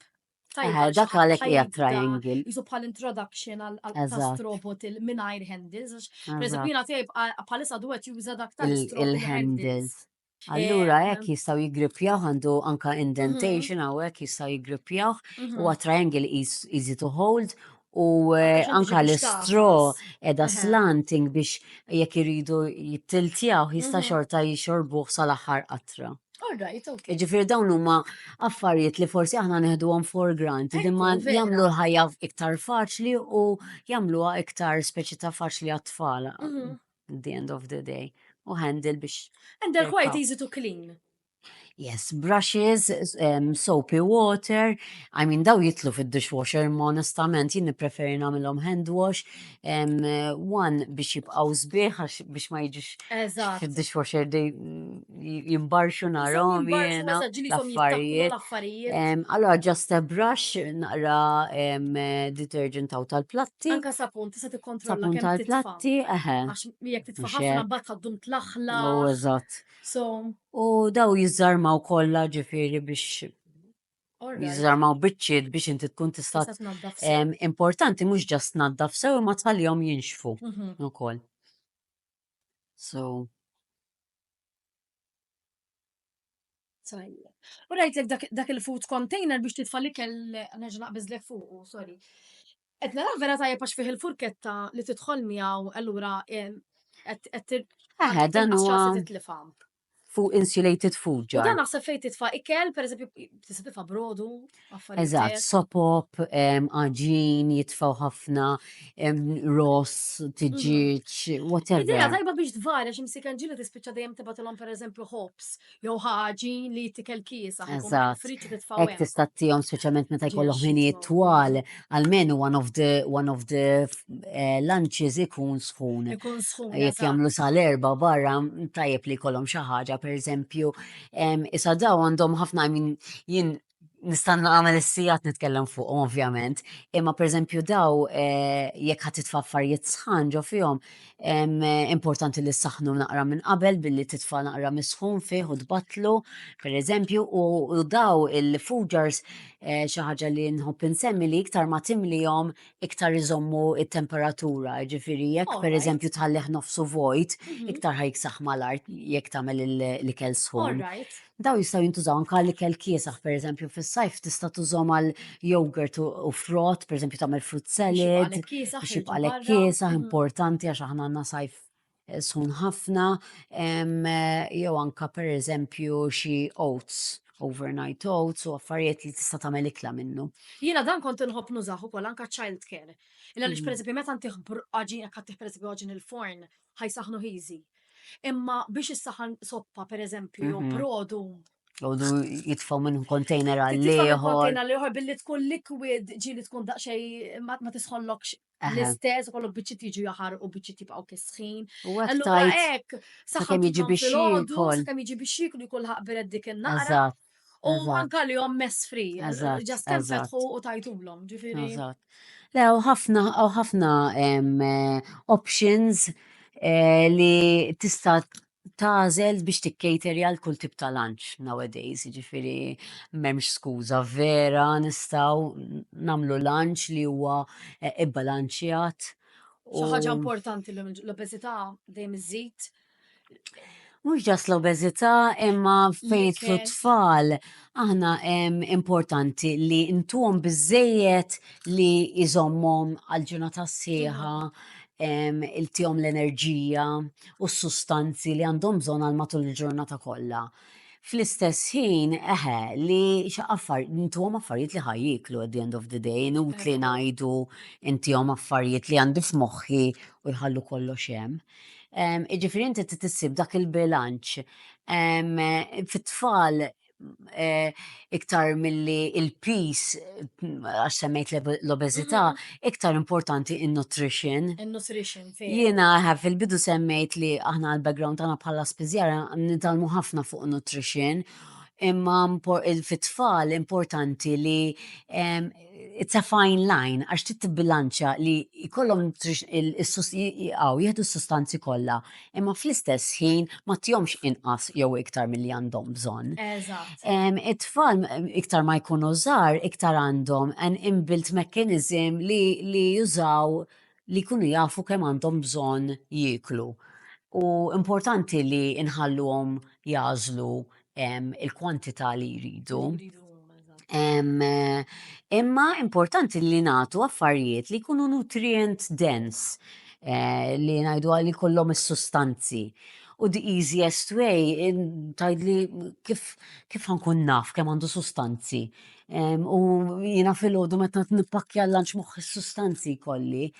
Tajja, eh, dak għalek hija triangle. Jisu bħal introduction għal robot il-minajr handles. Per eżempju, jina tejb bħalissa duet juża dak tal-handles. Allura hekk jistgħu jiggrippjawh għandu anka indentation hawn hekk jistgħu jiggrippjawh huwa triangle eas- easy to hold u eh, Għax anka biex l-istro tagħfas. edha Eħe. slanting biex jekk iridu jittiltjaw jista' Mhm. xorta jixorbuh sal-aħħar qatra. All right, ok. Ġifieri dawn huma affarijiet li forsi aħna neħduhom for granted imma Ekku, vera. jagħmlu l-ħajja iktar faċli u jagħmluha iktar speċi ta' faċli għat-tfal. Mhm. at the end of the day. U handle biex. And they're quite easy to clean. Yes, brushes, um, soapy water, I mean daw jitlu fid-dishwasher, ma onestament jien preferi nagħmilhom hand wash, um, one biex jibqgħu sbieħ biex ma jiġix fid-dishwasher they mm, jimbarxu narom jena l-affarijiet. Allora, just a brush, naqra detergent taw tal-platti. Anka sapun, tista' tikkontrolla kemm tal-platti, eħe. Għax jekk titfa' ħafna mbagħad ħaddum tlaħla. U oh, eżatt. So. U daw jiżarmaw kollha ġifieri biex jiżarmaw biċċiet biex inti tkun tista' importanti mhux ġast naddaf sew imma tħallihom jinxfu mhm. ukoll. So. Tajjeb. U rajtlek dak, dak il-food container biex titfa' l-ikel nerġa' naqbiżlek fuq, sorry. Qed nara vera tajjeb għax fih il-furketta li tidħol miegħu allura eh, qed qed tir- Aha, dan tinqas huwa- ċansi titlifha. fuq insulated food jar. U dan naħseb fejn titfa' ikel, pereżempju, tista' titfa' brodu, affarijiet. Eżatt, sopop, għaġin, jitfaw ħafna, ross, tiġiġ, whatever. Idea tajba biex tvarja xi msiken ġili tispiċċa dejjem tibatilhom pereżempju hops, jew ħaġin li tikel kiesa. Eżatt. Friċċi titfaw. Hekk tista' tihom speċjalment meta jkollhom ħinijiet twal almenu one of the one of the eh, lunches ikun sħun. Ikun sħun. Jekk eżatt. jagħmlu sal-erba barra mm, tajjeb li jkollhom xi ħaġa, pereżempju, em, issa daw għandhom ħafna min jien nista' nagħmel is-sigħat nitkellem fuqhom ovvjament, imma pereżempju daw eh, jekk ħadd titfa' affarijiet sħan ġo fihom, Importanti li ssaħħnu naqra minn qabel billi titfa' naqra misħun fih u tbattlu, pereżempju, u daw il-fugars eh, xi ħaġa li nħobb insemmi li iktar ma timlihom iktar iżommu it-temperatura, ġifieri jekk pereżempju tħallih nofsu vojt, mhm. iktar ħajksaħ mal-art jekk tagħmel l-ikel sħun. Dawn jistgħu jintużaw anke għal ikel kiesaħ, pereżempju fis-sajf tista' tużhom għal yogurt u frott, pereżempju tagħmel fruit salad, biex jibqalek kiesaħ, importanti għax aħna għandna sajf eh, sun ħafna, jew anke pereżempju xi oats overnight oats u affarijiet li tista' tagħmel ikla minnu. Jiena dan kont inħobb nużaħ ukoll anke child care. Illa li mm. pereżempju meta ntih għaġin jekk ħaddih pereżempju għaġin il-forn ħajsaħnu ħiżi. Imma biex issaħan soppa, per eżempju, jew mhm. brodu. Brodu jitfaw minn kontejner għal-liħor. Kontejner għal-liħor billi tkun liquid ġili tkun daqxej ma tisħollokx l-istess, kollok biċċiet jiġu jaħar u biċċiet jibqaw kisħin. Allura hekk, saħħa jiġi biex jikol. Saħħa jiġi biex jikol jkun ħaqbiret dik in-naqra. U mm-hmm. anka li jom mess free, ġast kem fetħu u tajtulom, ġifiri. Le, u ħafna, u ħafna eh, options eh, li tista tazel biex tikkejteri għal kull tip ta' lunch nowadays, ġifiri memx skuza vera nistaw namlu lunch li huwa eh, ibbalanċjat. Xi ħaġa importanti l-obesità dejjem iżid Mhux ġas l-obeżità imma fejn jitlu tfal aħna em, importanti li ntuhom biżejjed li jżommhom għal ġurnata sħiħa em, iltihom l-enerġija u s-sustanzi li għandhom bżonn għal matul il-ġurnata kollha. Fl-istess ħin, eħe, li xaqqaffar, intuhom affarijiet li ħaj jiklu at the end of the day, inut li ngħidu intihom affarijiet li għandi f'moħħi u jħallu kollox hemm. Jiġifieri inti trid issib dak il-bilanċ. Fit-tfal iktar milli l-piż, għax semmejt l-obeżità, iktar importanti n-nutrition. In-nutrition, veru. Jiena fil-bidu semmejt li aħna l-background tagħna bħala spiżjara nitgħallmu ħafna fuq nutrition, imma fit-tfal importanti li it's a fine line għax trid tibbilanċja li jkollhom jaqgħu jieħdu s-sustanzi kollha, imma fl-istess ħin ma tihomx inqas jew iktar milli għandhom bżonn. Eżatt. It-tfal iktar ma jkunu żgħar iktar għandhom an inbuilt mechanism li jużaw li jkunu jafu kemm għandhom bżonn jieklu u importanti li nħalluhom jagħżlu il-kwantità li jridu. Imma importanti li nagħtu affarijiet li jkunu nutrient dense eh, li ngħidu għalli kollhom is-sustanzi U the easiest way, tajdli kif kif ħankun naf kemm għandu sustanzi U jina fil-ħodu meta t-nipakja l-lanċ moħħi sustanzi kolli.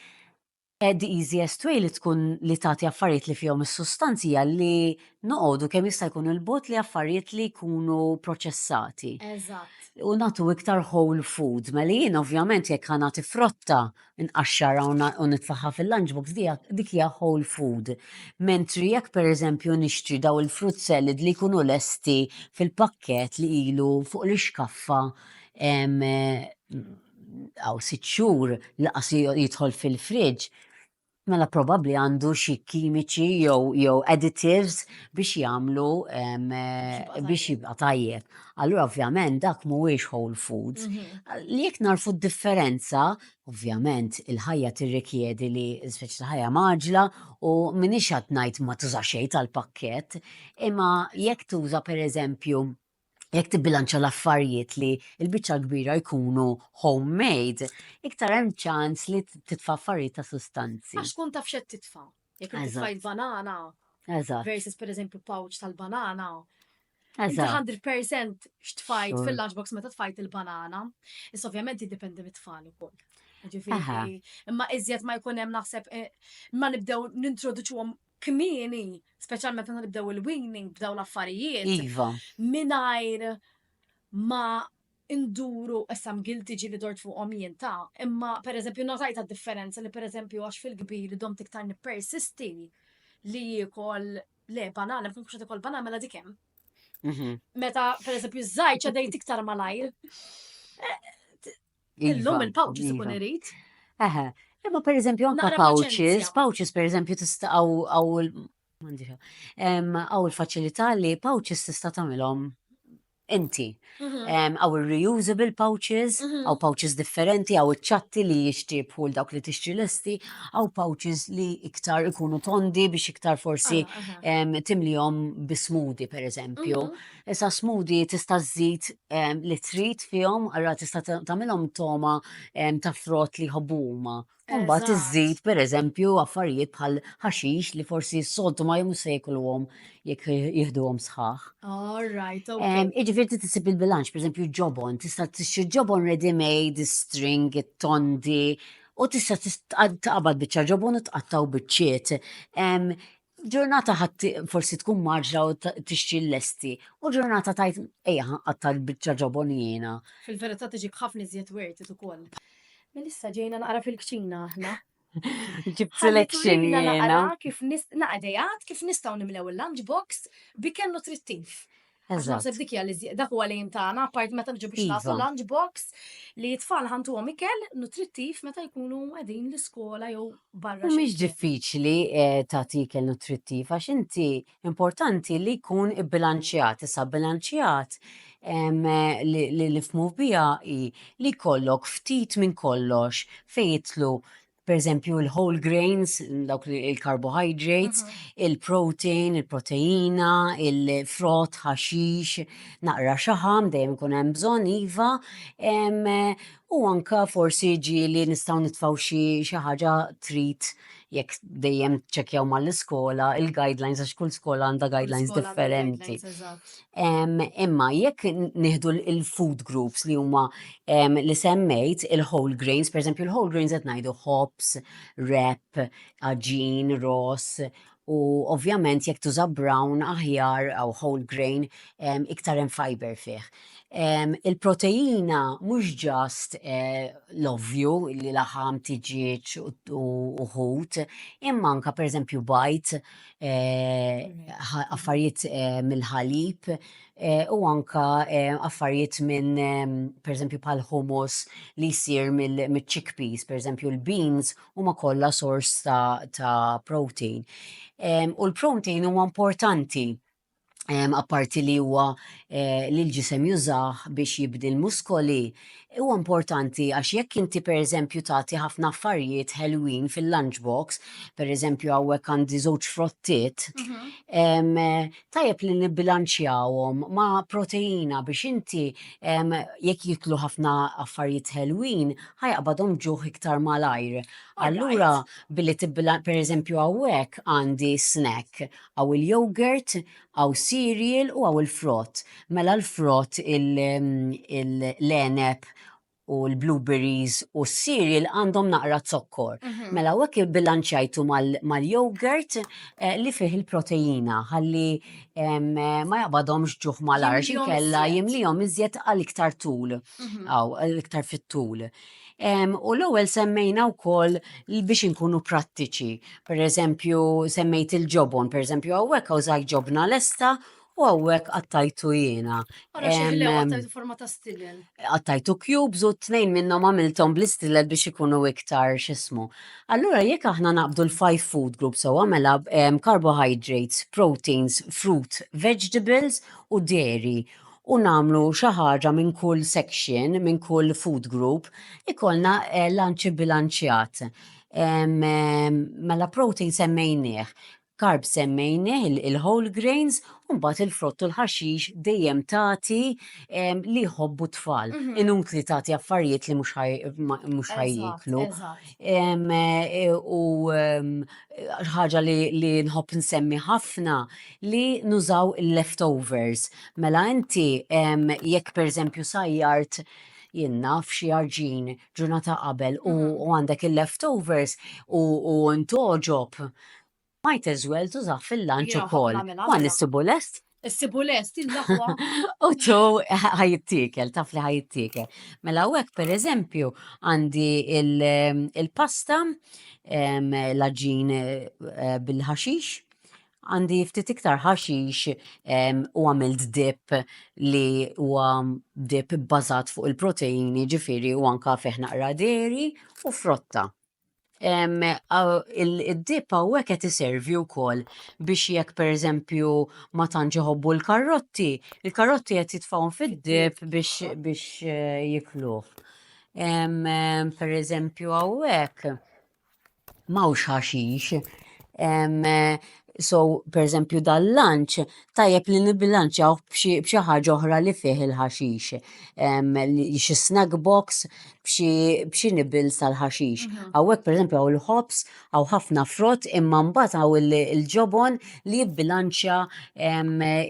Ed easiest way li tkun li tagħti affarijiet li fihom is-sustanzi li noqogħdu kemm jista' jkun il-bot li affarijiet li jkunu proċessati. Eżatt. U nagħtu iktar whole food, mela jien ovvjament jekk ħanati frotta nqaxxarha u nitfagħha fil-lunch box dik hija whole food. Mentri jekk pereżempju nixtri daw il-fruit salad li jkunu lesti fil-pakkett li ilu fuq l-ixkaffa għal sitt xhur lanqas jidħol fil-fridge, Mela probabbli għandu xi kimiċi jew jew additives biex jagħmlu biex jibqa' tajjeb. Allura ovvjament dak mhuwiex whole foods. Mhm. Li jekk narfu d-differenza, ovvjament il-ħajja tirrikjedi li speċi ta' ħajja maġla u minix qed ngħid ma tuża xejn tal-pakkett, imma jekk tuża pereżempju jekk tibbilanċja l-affarijiet li l-biċċa l-kbira jkunu homemade, iktar hemm ċans li titfa' affarijiet ta' sustanzi. Għax tkun taf xed titfa'. Jekk titfa' il-banana. Eżatt. Versus pereżempju pouch tal-banana. Eżatt. 100% x'tfajt fil-lunchbox meta tfajt il-banana. Issa ovvjament jiddependi mit-tfal ukoll. Ġifieri, imma iżjed ma jkun hemm naħseb eh, ma nibdew nintroduċuhom kmieni, speċjalment meta nibdew il-weaning b'daw l-affarijiet. Iva. Mingħajr ma induru issa mgilti ġili dort fuqhom jien ta' imma pereżempju notajta differenza li pereżempju għax fil-kbir dom tiktar nippersisti li jiekol le banana, mkun kuxa tikol banana mela dikem. Mhm. Meta pereżempju żgħir ċedejt iktar malajr. Eh, Illum iva, il-pouches ikun iva. irid. Eħe, imma per eżempju anka pouches, pouches per eżempju tista' għaw għaw il-faċilità li pouches tista' tagħmilhom inti. Mhm. Għaw il-reusable pouches, għaw mhm. pouches differenti, għaw iċ-ċatti li jixtibħu l-dawk li tixtri l-esti, għaw pouches li iktar ikunu tondi biex iktar forsi ah, timlijom bismudi, per eżempju. Mhm. Issa smoothie tista' żżid ehm, li trid fihom, allura tista' ta- tagħmilhom toma ehm, ta' frott li jħobbu huma. U mbagħad Eżatt. iżżid pereżempju affarijiet bħal ħaxix li forsi s-soltu ma jomux se jekluhom jekk jieħduhom sħaħ. All right, ok. Ehm, Iġifieri trid tisib il-bilanċ, pereżempju ġobon, tista' tixtri ġobon ready made, is-string, it-tondi, u tista' tis- tqa- taqbad biċċa ġobon u tqattaw biċċiet. Ehm, Ġurnata ħadd forsi tkun marġla u tixtri l-lesti, u ġurnata tajt ejja ħanqatta l-biċċa ġobon jiena. Fil-verità tiġib ħafna iżjed werti ukoll. Melissa ġejna naqra fil-kċina aħna. Ġib selection jiena. Kif naqra kif nistgħu nimlew il-lunchbox bi kell nutrittiv. Għax naħseb dik hija li dak huwa l-aim tagħna, apart meta niġu biex nagħtu iva. lunch box li t-tfal ħantuhom ikel nutrittiv meta jkunu qegħdin l-iskola jew barra. Mhix diffiċli eh, tagħti ikel nutrittiv għax inti importanti li jkun ibbilanċjat, issa bilanċjat eh, li nifmu biha li kollok ftit minn kollox fejn jitlu pereżempju l-whole grains, dawk il-carbohydrates, il-protein, il-proteina, il-frott, ħaxix, naqra xaħam, dejjem ikun hemm bżonn iva, u anka forsi ġieli nistgħu nitfgħu xi ħaġa treat jekk dejjem ċċekkjaw mal-iskola il-guidelines għax kull skola għandha guidelines differenti. Imma jekk nieħdu l-food groups li huma li semmejt il-whole grains, pereżempju l-whole grains qed ngħidu hops, rep, aġin, ros, u ovvjament jekk tuża brown aħjar jew whole grain iktar hemm fiber fih. Il-proteina mhux ġast l-ovvju li laħam, tiġieġ u ħut, imma anke pereżempju bajd, affarijiet mill-ħalib u anke affarijiet minn pereżempju bħal hummus li jsir mill-chickpeas, pereżempju l-beans huma kollha sors ta' protein. U l-protein huwa importanti apparti li huwa eh, li l-ġisem jużah biex jibdi l-muskoli, huwa importanti għax jekk inti pereżempju tagħti ħafna affarijiet ħelwin fil-lunchbox, pereżempju hawnhekk għandi żewġ frottiet, mhm. tajjeb li nibbilanċjawhom ma' proteina biex inti jekk jiklu ħafna affarijiet ħelwin ħajqbadhom ġuħ iktar malajr. Allura billi tibbilanċja pereżempju hawnhekk għandi snack Hawn il-yogurt, hawn cereal u hawn il-frott. Mela l-frott, l-għeneb u l-blueberries u s-cereal għandhom naqra zokkor. Mhm. Mela hawnhekk ibbilanċjajtu mal-yogurt eh, li fih il-proteina ħalli ma jaqbadhomx ġuħ mal-arx inkella jimlihom iżjed għal iktar tul. Mhm. Aw, iktar fit-tul. U l-ewwel semmejna wkoll biex inkunu prattiċi. Per eżempju, semmejt il-ġobon, per eżempju, hawnhekk hawn żgħid ġobna lesta u hawnhekk qattajtu jiena. Ara xi ħlew Em, għattajtu forma ta' stilel. Qattajtu cubes u t-tnejn minnhom għamilthom bl-istilel biex ikunu iktar x'ismu. Allura jekk aħna naqbdu l-five food groups sewwa mela em, carbohydrates, proteins, fruit, vegetables u dairy. u nagħmlu xi ħaġa minn kull section, minn kull food group, ikollna lunch ibbilanċjat. Mela protein semmejnieh, carbs semmejnieh, il-whole grains, u mbagħad il-frott u l-ħaxix dejjem tagħti li jħobbu t-tfal, inutli tagħti affarijiet li mhux ħa jieklu. U ħaġa li nħobb insemmi ħafna. li nużaw il-leftovers. Mela inti jekk pereżempju sajjart jien naf xi arġin ġurnata qabel u mm. għandek il-leftovers u ntoġob might as well tużaħ fil-lanċ ukoll. Ma nissibu lest? Issibu lest il-laħwa. U tu ħajittikel, taf li ħajittikel. Mela u per eżempju għandi il-pasta, l-ħaġin eh, bil-ħaxix, Għandi ftit iktar ħaxix u għamilt dip li huwa dip bbażat fuq il-proteini ġifiri u anka fih naqra deri u frotta. Id-dip hawnhekk qed iservi wkoll biex jekk pereżempju ma tantx iħobbu l-karotti, il-karotti qed jitfgħuhom fid-dip biex jikluh. Pereżempju hawnhekk Mawx ħaxix. So, pereżempju dal-lunch tajjeb li nibbilanċjawh b'xi ħaġa oħra li fih il-ħaxix. Xi snack box b'xi nibbles tal-ħaxix. Hawnhekk pereżempju hawn il-ħobż, hawn ħafna frott imma mbagħad hawn il-ġobon li jibbilanċja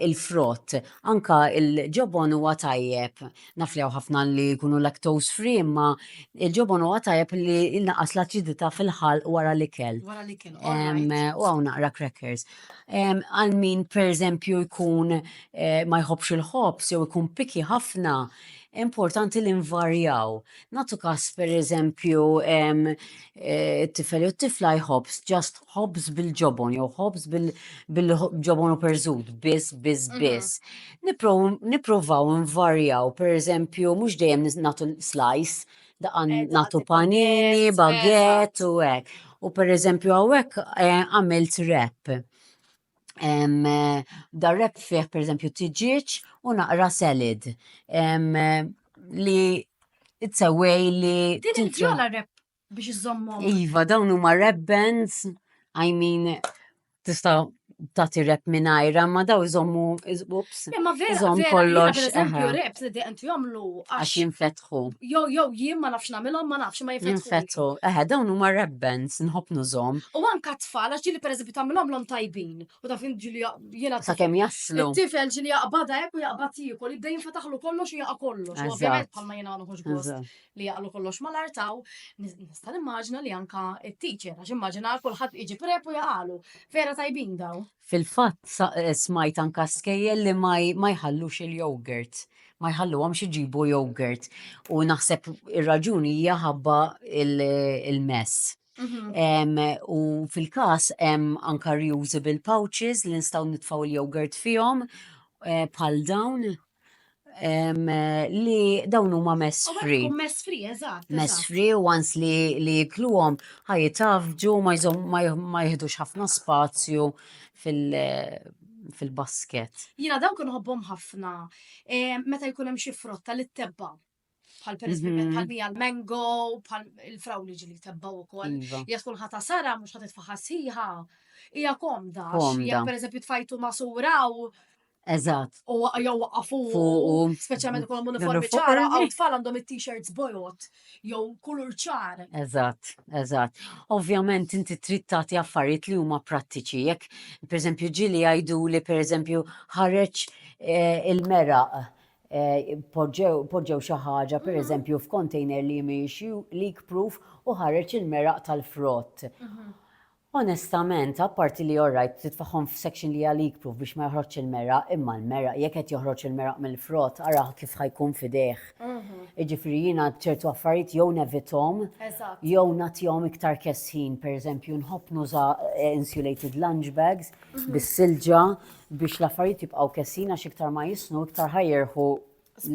l-frott. Anke l-ġobon huwa tajjeb. Naf li hawn ħafna li jkunu lactose free imma il-ġobon huwa tajjeb li jnaqqas l-aċidità fil-ħalq wara l-ikel. Wara l-ikel. U hawn naqra crackers. Għal min pereżempju jkun eh, ma jħobbx il-ħobż jew ikun piki ħafna, importanti li nvarjaw. Nagħtu każ pereżempju t-tifel jew t-tifla jħobbs ġast ħobbs bil-ġobon jew ħobbs bil-ġobon u perżut biss biss mhm. biss. Nippruvaw nvarjaw pereżempju mhux dejjem nagħtu slice daqan nagħtu panini, baguette u hekk. U pereżempju hawnhekk eh, għamilt rep darreb fih per eżempju tiġieġ u naqra salad li t-sewwej li. Din il-vjola rep biex iżommhom. Iva, dawn huma rep bands, I mean, tista' tagħti rep mingħajra, ma daw iżommu ups. Imma vera, iżomm kollox. Per eżempju, rep li għandu jagħmlu għax jinfet jinfetħu. Jew jew jien ma nafx nagħmilhom ma nafx ma jinfetħu. Jinfetħu. Eħe, dawn huma rebbens, nħobb nużhom. U anka tfal għax ġili pereżempju tagħmilhom lhom tajbin. U taf ġili jiena sakemm jaslu. Tifel ġili jaqbada hekk u jaqbad jiekol, jibda jinfetaħlu kollox u jaqa' kollox. U ovvjament bħalma jiena noħoġ gost li jaqlu kollox mal-artaw, nista' nimmaġina li anka it-teacher għax immaġina kulħadd iġi prep u jaqalu. Vera tajbin daw. Fil-fatt smajt anka skejjel li ma jħallux il-yogurt, ma jħalluhomx iġibu yogurt u naħseb ir-raġuni hija ħabba il-mess. U fil-każ hemm anka reusable pouches li nistgħu nitfgħu l-yogurt fihom bħal dawn. li dawn huma mess free. Mess free, eżatt. Mess free u għans li li jikluhom ħajitafġu ma jihdux ħafna spazju fil- fil-basket. Jina dawn kun ħobbom ħafna. Meta jkun hemm xi frotta li tebba. bħal per mm-hmm. bħal bija l-mango, bħal il-frawli ġili tebbaw u koll. Iva. Jek tkun ħata sara, mux ħat tfaħa siħa, ija komda. Jek per eżempju tfajtu masura u. Eżat. U jow għafu. Speċjalment kol uniformi ċara, għaw tfal għandhom it-t-shirts bojot, jow kulur ċar. Eżat, eżat. Ovvjament inti trid tagħti affarijiet li huma prattiċi. Jek, per eżempju, ġili għajdu li per eżempju ħareġ eh, il-meraq poġġew xi ħaġa pereżempju f'container li mhix leak proof u ħareġ il-meraq tal-frott. Onestament, apparti li all right titfagħhom f'section li hija leak proof biex ma joħroġx il-meraq, imma l-meraq jekk qed joħroġ il-meraq mill-frott ara kif ħa jkun f'idejh. Jiġifieri jiena ċertu affarijiet jew nevithom jew nagħtihom iktar kesħin, pereżempju nħobb nuża insulated lunch bags bis-silġa biex l-affarijiet jibqgħu kessin għax iktar ma jisnu iktar ħajjerħu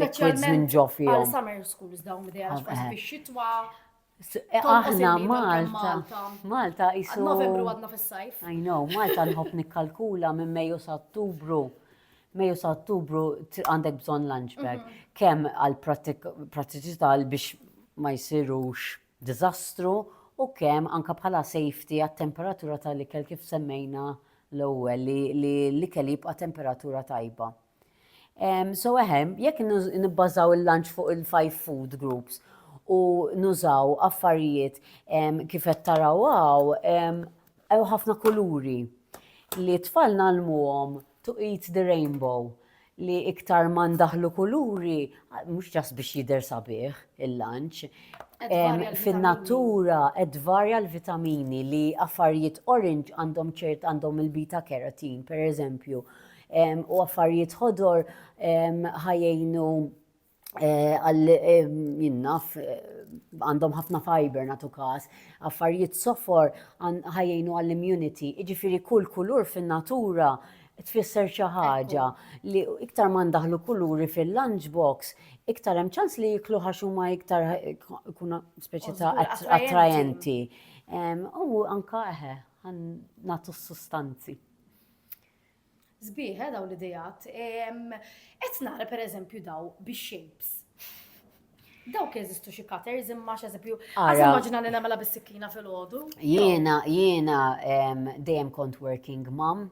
liquids minn ġo fihom. Għal summer schools dawn idea għax eh. fix-xitwa. Eh, aħna Malta. Malta jisu. Novembru għadna fis-sajf. I know, Malta nħobb nikkalkula minn Mejju sa Ottubru. Mejju sa Ottubru għandek bżonn lunch bag. Mhm. Kemm għal prattiċità biex ma jsirux diżastru u kemm anke bħala safety għat-temperatura tal-ikel kif semmejna l-ewwel li li l-ikel jibqa' temperatura tajba. Ehm, so ehem, jekk nibbażaw il-lunch fuq il-five food groups u nużaw affarijiet ehm, kif qed taraw hawn ehm, ħafna kuluri li tfal nalmuhom to eat the rainbow. li iktar ma ndaħlu kuluri, mhux ġas biex jidher sabiħ il-lanċ, fin-natura qed varja l-vitamini li affarijiet orange għandhom ċert għandhom il-beta carotene pereżempju u affarijiet ħodor ħajjejnu Eh, għal eh, jinnaf eh, għandhom ħafna fiber natu kas, affarijiet sofor ħajjinu għall-immunity, iġifiri kull kulur fin-natura tfisser xi ħaġa li iktar ma ndaħlu kuluri fil-lunchbox, iktar hemm ċans li jiklu ħax huma iktar kuna speċi ta' attrajenti. U anka eħe, natu s-sustanzi. Sbieħ, eh, dawn l-ideat. Qed nara pereżempju daw bix-shapes. Dawk jeżistu xi cutters imma x'eżempju, għaż immaġina li nagħmilha bis-sikkina fil-għodu. Jiena, jiena dejjem kont working mom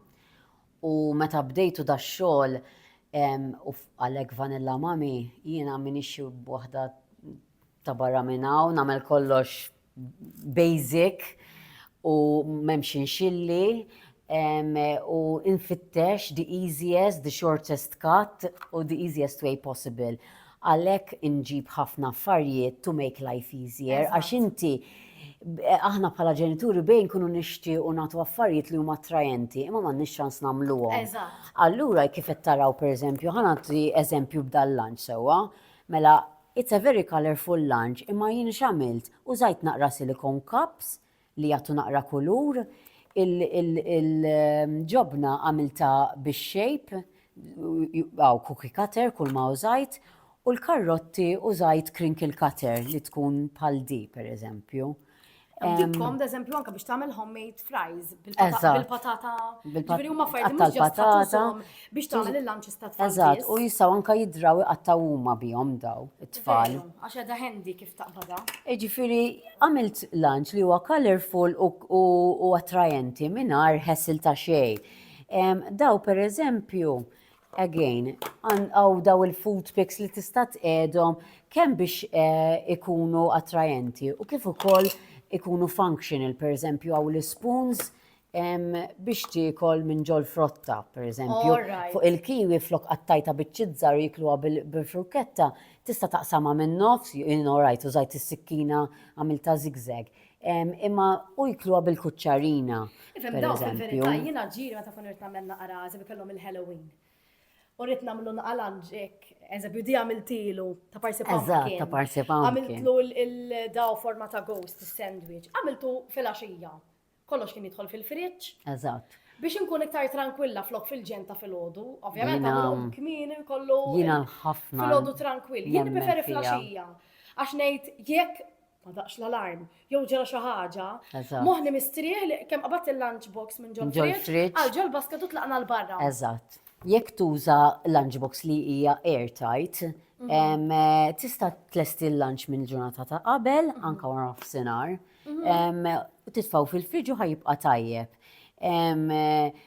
u meta bdejtu da xogħol u għalhekk vanilla mami, jiena minix waħda Ta' barra minn hawn nagħmel kollox basic u m'hemmx inxilli u infittex the easiest, the shortest cut u the easiest way possible. Għalhekk inġib ħafna affarijiet to make life easier għax inti aħna bħala ġenituri bejn nkunu nixtiequ nagħtu affarijiet li huma attrajenti, imma m'għandniex ċans nagħmluhom. Allura kif qed taraw pereżempju, ħa nagħti eżempju b'dal-lunch sewwa, mela It's a very colourful lunch imma jien x'għamilt? Użajt naqra silicone cups li jagħtu naqra kulur, il-ġobna għamiltha bix-shape, hawn cookie cutter kulma użajt, u l-karrotti użajt crinkle cutter li tkun bħal di pereżempju. Dikkom, eżempju, anka biex tagħmel homemade fries bil-patata. Ġifieri huma affarijiet mhux ġastatata biex tagħmel il-lunches ta' tfal. Eżatt, u jistgħu anka jidraw iqattaw huma bihom daw it-tfal. Għax qed ħendi kif taqbada. Ġifieri għamilt lunch li huwa colorful u attrajenti mingħajr ħessil ta' xejn. Daw pereżempju, Again, għaw daw il-food pics li tista' tqedhom kemm biex eh, ikunu attrajenti u kif ukoll ikunu functional, per eżempju għaw l-spoons biex tiekol minn ġol frotta, per eżempju. Fuq il-kiwi flok qattajta biċ-ċizzar jikluha bil-frukketta, tista' taqsama minn nofs, in alright, użajt is-sikkina għamilta zigzag. Imma u jkluha bil-kuċċarina. Ifhem daw fil-verità jiena ġiri meta kun irid nagħmel naqra eżempju kellhom il-Halloween. U rrid nagħmlu naqra lanġek, eżempju di għamiltilu ta' parsi pumpkin. ta' parsi pumpkin. Għamiltlu il-daw forma ta' ghost sandwich. Għamiltu fil-għaxija. Kollox kien jidħol fil-friġġ. Eżatt biex inkun iktar tranquilla flok fil-ġenta fil-ħodu, ovvjament għamlu kmin kollu. Jina ħafna. Fil-ħodu tranquill, jien preferi flasġija. Għax nejt, jekk ma daqx l-alarm, jew ġara xi ħaġa. Moħni mistrieħ li kemm qabadt il-lunch box minn ġol fridge, għal ġol basket u tlaqna l-barra. Eżatt. Jekk tuża lunch box li hija airtight, mhm. eh, tista' tlesti l-lunch minn ġurnata ta' qabel, mhm. anka wara f'sinar, mhm. titfaw fil-friġu ħajibqa' tajjeb. Eh,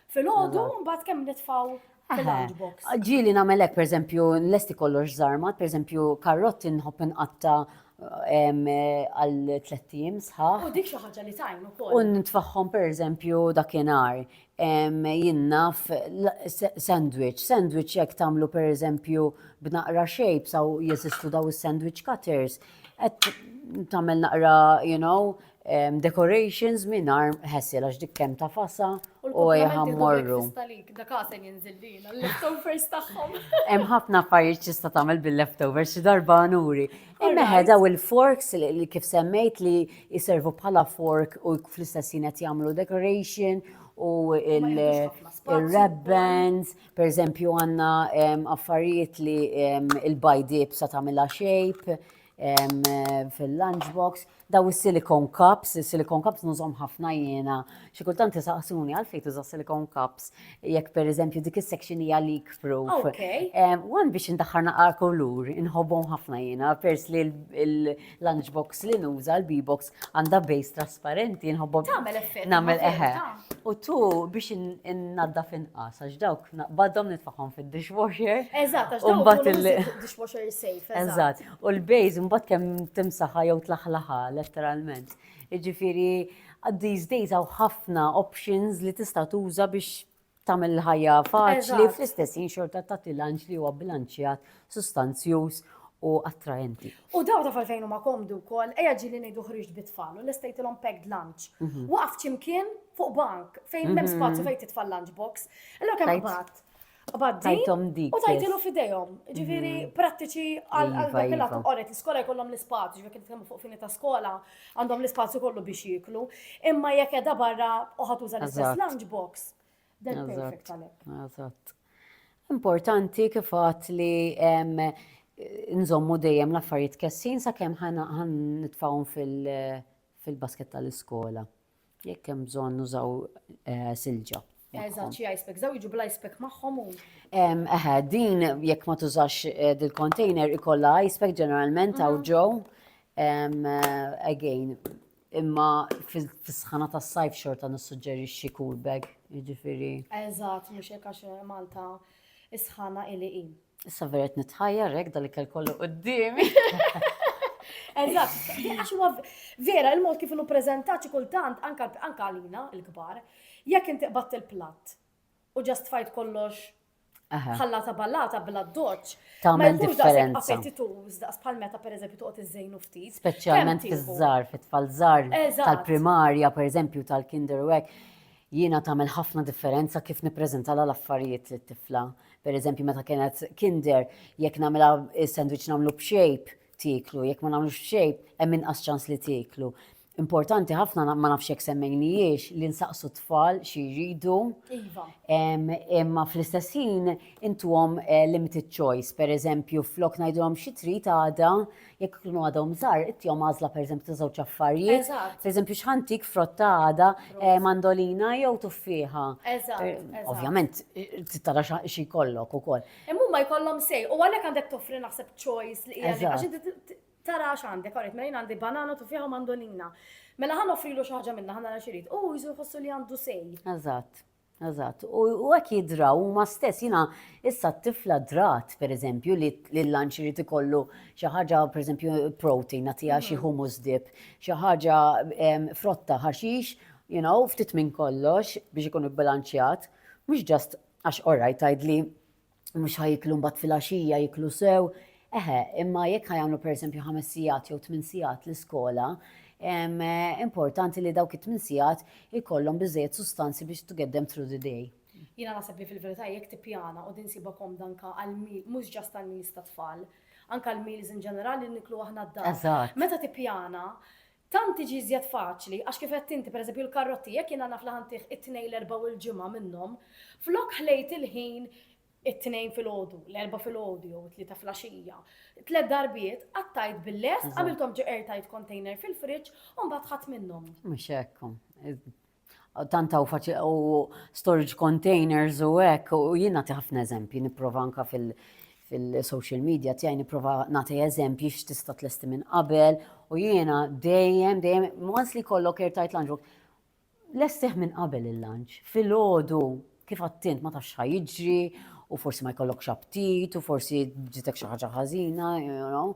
Fil-ħodu, mbagħad kemm nitfgħu Ġili namelek, per eżempju, l-esti kollox zarmat, per eżempju, karrotti nħobb inqatta għal tlettim sħaħ. U dik xi ħaġa li tajn ukoll. U nitfaħħom per eżempju dakinhar jinnaf sandwich, sandwich jekk tagħmlu per eżempju b'naqra shapes aw jeżistu daw is-sandwich cutters, qed tagħmel naqra, you know, decorations mingħajr ħessi għax dik kemm ta' fasa u jħammorru. Hemm ħafna affarijiet tista' tagħmel bil-leftovers xi darba nuri. Imma daw il-forks li kif semmejt li jservu bħala fork u fl-istess ħin qed jagħmlu decoration u il-ribbons, per eżempju għandna affarijiet li il-bajd ibsa tagħmilha shape fil-lunchbox. Daw is-silicone cups, is-silicone cups nużhom ħafna jiena. Xi kultant isaqsuni għalfejn tuża' silicone cups jekk pereżempju dik is-section hija leak proof. Okay. Wan biex indaħħar naqra kulur, inħobbhom ħafna jiena, pers li l-lunch box li nuża, l-B-box għandha base trasparenti, inħobbhom. Tagħmel effett. Nagħmel eħe. U tu biex innaddaf inqas għax dawk badhom nitfagħhom fid-dishwasher. Eżatt, għax dawk dishwasher safe. Eżatt. U l-base mbagħad kemm timsaħha jew tlaħlaħha letteralment. Jiġifieri these days hawn ħafna options li tista' tuża biex tagħmel ħajja faċli fl-istess jien xorta ta' tilanġ li huwa bilanċjat, sustanzjuż u attraenti. U daw ta' falfejn huma komdu wkoll, ejja ġili ngħidu ħriġt bit-tfal u l-istejtilhom packed lunch. Mhm. Waqaf ċimkien fuq bank fejn m'hemm mhm. spazju fejn titfal lunch box. Allora kemm bat Qbad din Tajthom dik. u tajtilu biss. f'idejhom. Ġifieri prattiċi għal għal Iva, dak il-għatu iva. qoret. L-iskola jkollhom l-ispazju, ġifieri kif tkellmu fuq fini ta' skola, għandhom l-ispazju kollu biex jieklu. Imma jekk qiegħda barra u ħa tuża l-istess Eżatt. lunch box, then Eżatt. perfect għalhekk. Eżatt. Importanti kif għadt li em, nżommu dejjem l-affarijiet kessin sakemm ħa ħa nitfgħuhom fil- fil-basket tal-iskola. Jekk hemm bżonn nużaw eh, silġa. Eżatt, xi ice pack, daw jiġu bl-ice pack magħhom u. Eħe, din jekk ma tużax eh, dil-container ikolla ice pack ġeneralment għaw mhm. ġew. Eh, again, imma fis-sħana tas-sajf xorta nissuġġerixxi cool bag, jiġifieri. Eżatt, mhux hekk għax Malta is-sħana ili Issa vera qed nitħajjar hekk dal-ikel kollu quddiemi. Eżatt, għax huwa vera il-mod kif inhu preżentat xi kultant anka anka għalina l-kbar, jekk inti qbatt il-platt u ġast fajt kollox Aha. ħallata ballata bla doċ. Ma Tagħmel jkunx daqshekk differenza. appetituż daqs bħal meta pereżempju toqgħod iżżejnu ftit. Speċjalment Kemm tieħu? fiż-żar, fit-tfal żar Eżatt. tal-primarja, pereżempju tal-kinder u hekk. Jiena tagħmel ħafna differenza kif nippreżentalha l-affarijiet lit-tifla. Pereżempju meta kienet Kinder, jekk nagħmilha s-sandwich nagħmlu b'shape, tieklu, jekk ma nagħmlux b'shape, hemm inqas ċans li tieklu. Importanti ħafna, ma nafx jekk semmejnihiex, li nsaqsu t-tfal xi jridu. Iva. Imma fl-istess ħin intuhom limited choice, pereżempju flok ngħidulhom xi trid għada, Jekk ikunu għadhom żgħar, ittihom għażla pereżempju ta' żewġ affarijiet. Eżatt. Pereżempju x'ħantik frott ta' għada, eh, mandolina jew tuffieħa. Eżatt, Eh, eżatt. Ovvjament, eh, trid tara xa- xi jkollok ukoll. Imma huma jkollhom sej u għalhekk għandek toffri naħseb choice li hija li- Eżatt. għax inti t- t- tara x'għandek, għarajt, mela jien għandi banana, tuffieħa u mandolina. Mela ħa noffrilu xi ħaġa minnha, ħa nara x'irid. U jsu jħossu li għandu sej. Eżatt. Eżatt. U u hekk jidraw huma stess. Jiena issa t-tifla drat, pereżempju, li li l-lunch irid ikollu xi ħaġa, pereżempju, protein, nagħtiha xi hummus dip, xi ħaġa em, frotta, ħaxix, you know, ftit minn kollox biex ikun ibbilanċjat. Mhux just għax orajt tgħidli mhux ħa jiklu mbagħad filgħaxija jiklu sew. Eħe, imma jekk ħa jagħmlu pereżempju ħames sigħat jew tmien sigħat l-iskola, importanti li dawk it-tmien sigħat ikollhom biżejjed sustanzi biex to get them through the day. Jiena naħseb li fil-verità jekk tippjana u din sibha komda anke għal mhux ġast għal meals tat-tfal, anke għal meals in ġenerali li niklu aħna d-dar. Meta tippjana Tant tiġi iżjed faċli, għax kif għedt inti, pereżempju l-karrotti, jekk jiena naf li ħa ntih it-Tnejn, l-Erbgħa u l-Ġimgħa minnhom, flok ħlejt il-ħin it-Tnejn filgħodu, l-Erbgħa filgħodu jew it-Tlieta flaxija, tliet darbiet, qattajt bil-lest, għamilthom ġo airtight container fil-fridge u mbagħad ħadt minnhom. Mhux hekk hu. tant hawn faċi u storage containers u hekk u jien nagħti ħafna eżempji nipprova anka fil- fil-social media tiegħi nipprova nagħti eżempji x'tista' tlesti minn qabel u jiena dejjem dejjem once li kollok airtight lunch box lestih minn qabel il-lunch fil-ħodu kif għattint ma tafx jiġri u forsi ma jkollokx aptit u forsi ġitek xi ħaġa ħażina, you know.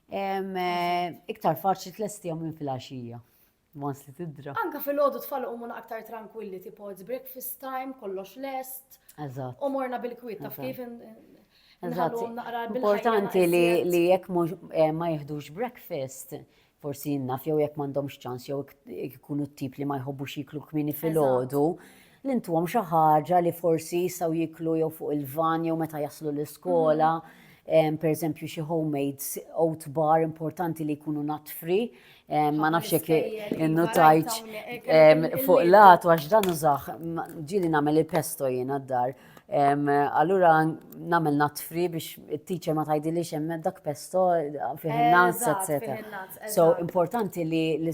Em, eh, iktar faċli tlestihom minn fil-għaxija. Once li tidra. Anka fil-ħodu tfal umu aktar tranquilli, tipo it's breakfast time, kollox lest. Eżatt. U morna bil-kwit, taf kif Importanti li jekk eh, ma jihdux breakfast, forsi jinnaf jew jekk m'għandhomx ċans jew ikunu t-tip li ma jħobbux jiklu kmini fil-ħodu. li ntuhom xi ħaġa li forsi jistgħu jieklu jew fuq il-van jew meta jaslu l-iskola, pereżempju xi homemade oat bar importanti li jkunu natfri, ma nafx jekk innutajtx fuq l-għatu għax dan użah, ġieli nagħmel il-pesto jiena d-dar. Allura nagħmel natfri biex it-teacher ma tgħidilix hemm dak pesto fih in-nuts, etc. So importanti li li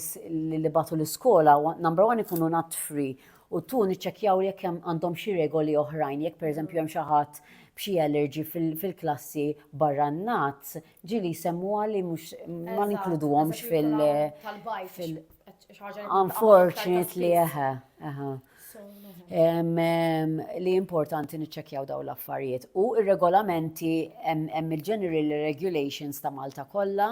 nibgħatu l-iskola, number one ikunu natfri u ttwo niċċekkjaw jekk hemm għandhom xi regoli oħrajn, jekk pereżempju hemm xi ħadd b'xi allergy fil-klassi barra n-nats, ġieli jsemmuha li mhux ma ninkluduhomx fil- Tal-bike fil- Unfortunately, eħe, eħe. Li importanti niċċekkjaw dawn l-affarijiet. U r-regolamenti hemm il-General Regulations ta' Malta kollha,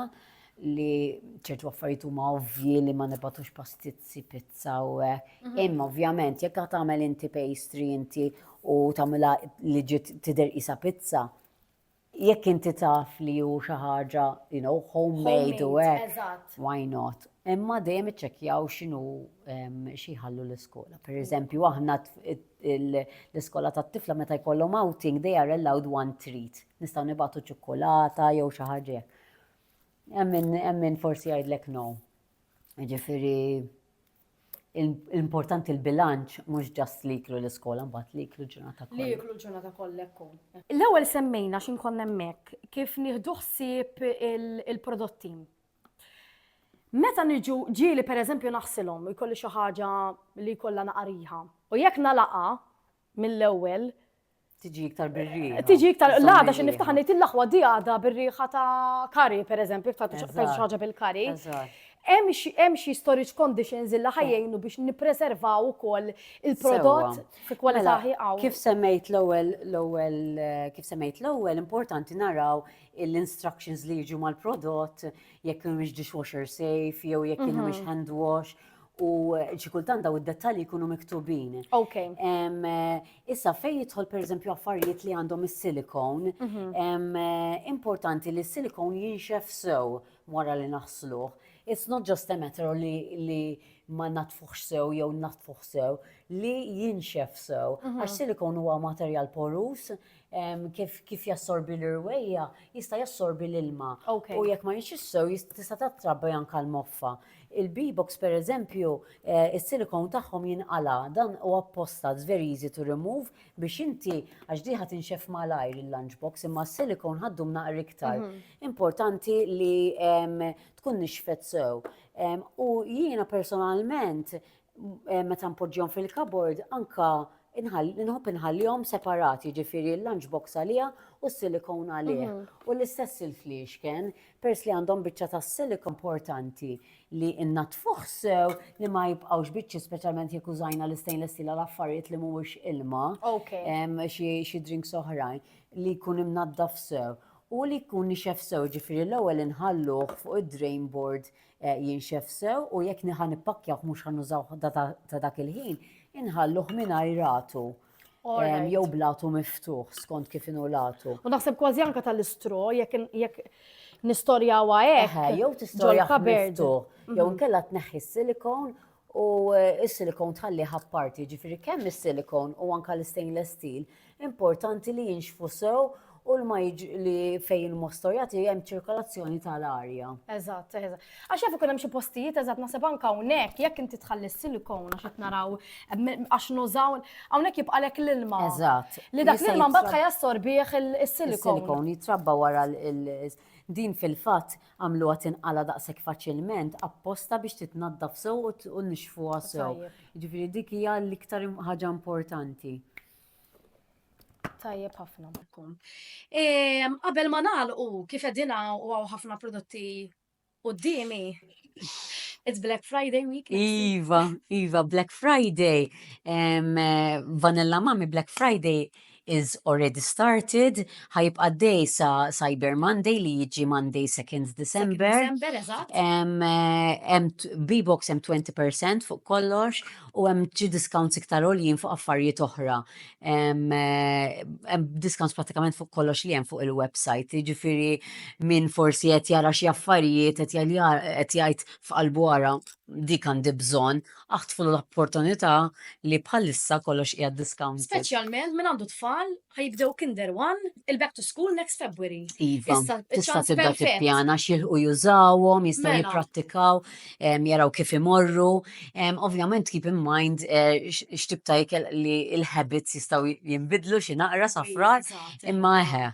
li ċertu affarijiet huma ovvji li ma nibatux pastizzi, pizza u mhm. imma ovvjament jekk tagħmel inti pastry inti u tagħmilha li ġiet tidher isa pizza, jekk inti taf li hu xi ħaġa, you know, homemade u hekk, why not? Imma dejjem iċċekkjaw x'inhu xi ħallu l-iskola. Per eżempju, aħna l-iskola tat-tifla meta jkollhom outing they are allowed one treat. Nistgħu nibgħatu ċokolata jew xi ħaġa Hemm min forsi jgħidlek no. Jiġifieri importanti l-bilanċ mhux ġast li jiklu l-iskola mbagħad li jiklu ġurnata kollha. Li jiklu ġurnata kollha ekku. L-ewwel semmejna xi nkun hemmhekk kif nieħdu ħsieb il-prodotti. Meta niġu ġieli pereżempju naħsilhom jkolli xi ħaġa li jkollha naqariha. U jekk nagħlaqha mill-ewwel Tiġi iktar birriħa. Tiġi iktar, l-għada xin niftaħan nejt l-laħwa di għada birriħa ta' kari, per eżempju, ta' xaġa bil-kari. Hemm xi storage conditions illa ħajjejnu biex nippreservaw ukoll il-prodott fi kwalità mela, ħieqaw. Kif semmejt l-ewwel l-ewwel kif semmejt l-ewwel importanti naraw l-instructions li jiġu mal-prodott jekk mhux dishwasher safe jew jekk mhux mm-hmm. hand wash u xi kultant daw id-dettalji jkunu miktubin. Ok. Issa fejn jidħol pereżempju affarijiet li għandhom is-silikon, mhm. importanti li s-silikon jinxef sew wara li naħsluh. It's not just a matter li, li ma natfuħx sew jew natfuħ sew li jinxef sew. Mhm. Għax silikon huwa materjal porus, kif jassorbi l-irwejja, jista' jassorbi l-ilma. U jekk ma jinxiex sew, tista' tattrabbi anke l-moffa. Il-B-box pereżempju, eh, is-silikon tagħhom jinqala, dan u apposta, it's very easy to remove, biex inti għax diħa tinxef malajr il-lunchbox, imma s-silikon ħaddum naqra iktar. Mhm. Importanti li tkun nixfet sew. U jiena personalment meta npoġġihom fil-kabord anka nħobb inħallihom separati, ġifieri l-lunch box għaliha u s-silikon għalih. Mhm. U l-istess il-fliexken, pers li għandhom biċċa ta' silikon importanti li innatfuh sew li ma jibqgħux biċċi speċjalment jekk użajna l-istainless steel għal affarijiet li mhuwiex ilma. Xi drinks oħrajn li jkun imnaddaf sew. U li jkun nixef sew ġifieri l-ewwel inħalluh fuq id-drain board jinxef sew u jekk niħa nippakkjawh mhux ħa nużawh ta' dak il-ħin, inħalluh mingħajr ratu. Jew blatu miftuħ skont kif inhu latu. U naħseb kważi anke tal-istro jekk nistorjawha hekk. Jew tistorjawha miftuħ. Jew inkella tneħħi s-silikon u s-silikon tħallih apparti, jiġifieri kemm is-silikon u anke l-istainless steel importanti li jinxfu sew u l-ma li fejn il-mostor jagħti hemm ċirkolazzjoni tal-arja. Eżatt, eżatt. Għax jaf ikun hemm xi postijiet eżatt naħseb anke hawnhekk jekk inti tħalli s-silikon għax qed naraw għax nużaw hawnhekk jibqalek l-ilma. Eżatt. Li dak l-ilma mbagħad ħajassorbih is-silikon. Is-silikon jitrabba wara din fil-fatt Għamluha tinqala' daqshekk faċilment apposta biex titnaddaf sew u t- u nixfuha sew. Tajjeb. Jiġifieri dik hija l-iktar im- ħaġa importanti. Tajjeb ħafna. Kum. Ehm, Qabel ma nagħlqu, kif qegħdin hawn u hawn ħafna prodotti quddiemi, it's Black Friday week. next week. Iva, iva, Black Friday, ehm, Vanilla Mami Black Friday is already started, ħa jibqa' għaddej sa Cyber Monday li jiġi Monday 2nd December. December, eżatt. Em, eh, em t- B-Box hemm 20% fuq kollox u hemm xi discounts iktar għoljin fuq affarijiet oħra. Em, eh, Hemm discounts pratikament fuq kollox li hemm fuq il-website, jiġifieri min forsi qed jara xi affarijiet qed jal- jar- qed jgħid f'qalbu ara dik għandi bżonn Aħtfu l-opportunità li bħalissa kollox qiegħed discounted. Speċjalment min għandu tfal ħa jibdew Kinder One, il-back to school next February. Iva, Issa, tista' ċans tibda perfett. tippjana x'jilħqu jużawhom, jistgħu Mela. jipprattikaw, em, jaraw kif imorru. Em, Ovvjament keep in mind eh, x- x'tip ta' ikel li l-habits jistgħu jinbidlu xi naqra sa frar, Eżatt, imma eħe,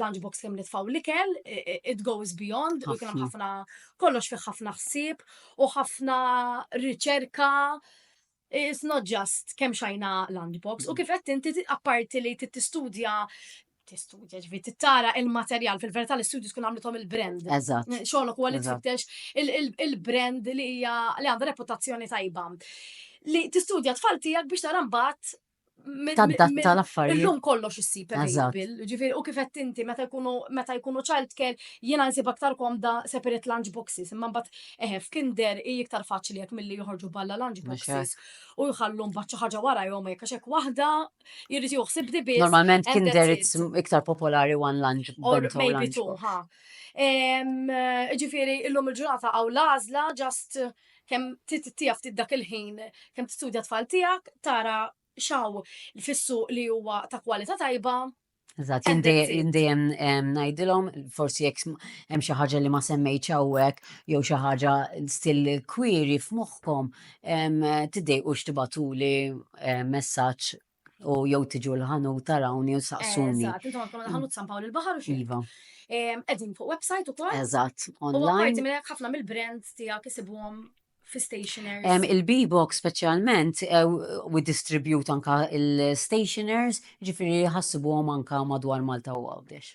lunch box kemm nitfaw l-ikel, it goes beyond, u kien ħafna kollox fih ħafna ħsieb u ħafna riċerka. It's not just kemm xajna lunch box. U mm. kif qed inti apparti li tistudja tistudja ġvi tittara il-materjal fil-verità l-istudju tkun għamlithom il-brand. Eżatt. Xogħlok huwa li tfittex il-brand li hija li għandha reputazzjoni tajba. Li tistudja tfal tiegħek biex tara mbagħad taddatta l-affarijiet. Illum kollox issib available, ġifieri u kif qed inti meta jkunu meta jkunu childcare jiena nsib aktar komda separate lunch boxes, imma mbagħad eħe f'kinder hi iktar faċli jekk milli joħorġu balla lunch boxes u jħallu mbagħad xi ħaġa wara jom jekk għax hekk waħda jrid joħsib dibis. Normalment kinder iktar popolari one lunch box. Maybe two, ha. Ġifieri illum il-ġurnata għaw l-għażla just kemm tittija ftit dak il-ħin, kemm tistudja tfal tiegħek, tara xaw fissu li huwa ta' kwalità tajba, Eżatt, jindejjem ngħidilhom forsi jekk hemm xi ħaġa li ma semmejtx hawnhekk jew xi ħaġa still kwiri f'moħħkom tiddejqux tibatuli messaġġ u jew tiġu l-ħanut tarawni u saqsuni. Eżatt, intom għandkom l-ħanut San Pawl il-Baħar u xi. Iva. Qegħdin fuq website ukoll. Eżatt, online. U apparti minn hekk ħafna mill-brands tiegħek isibuhom fi stationers? Il-B-Box specialment eh, u distribute anka il-stationers, ġifiri ħassibu għom anka madwar Malta u għawdex.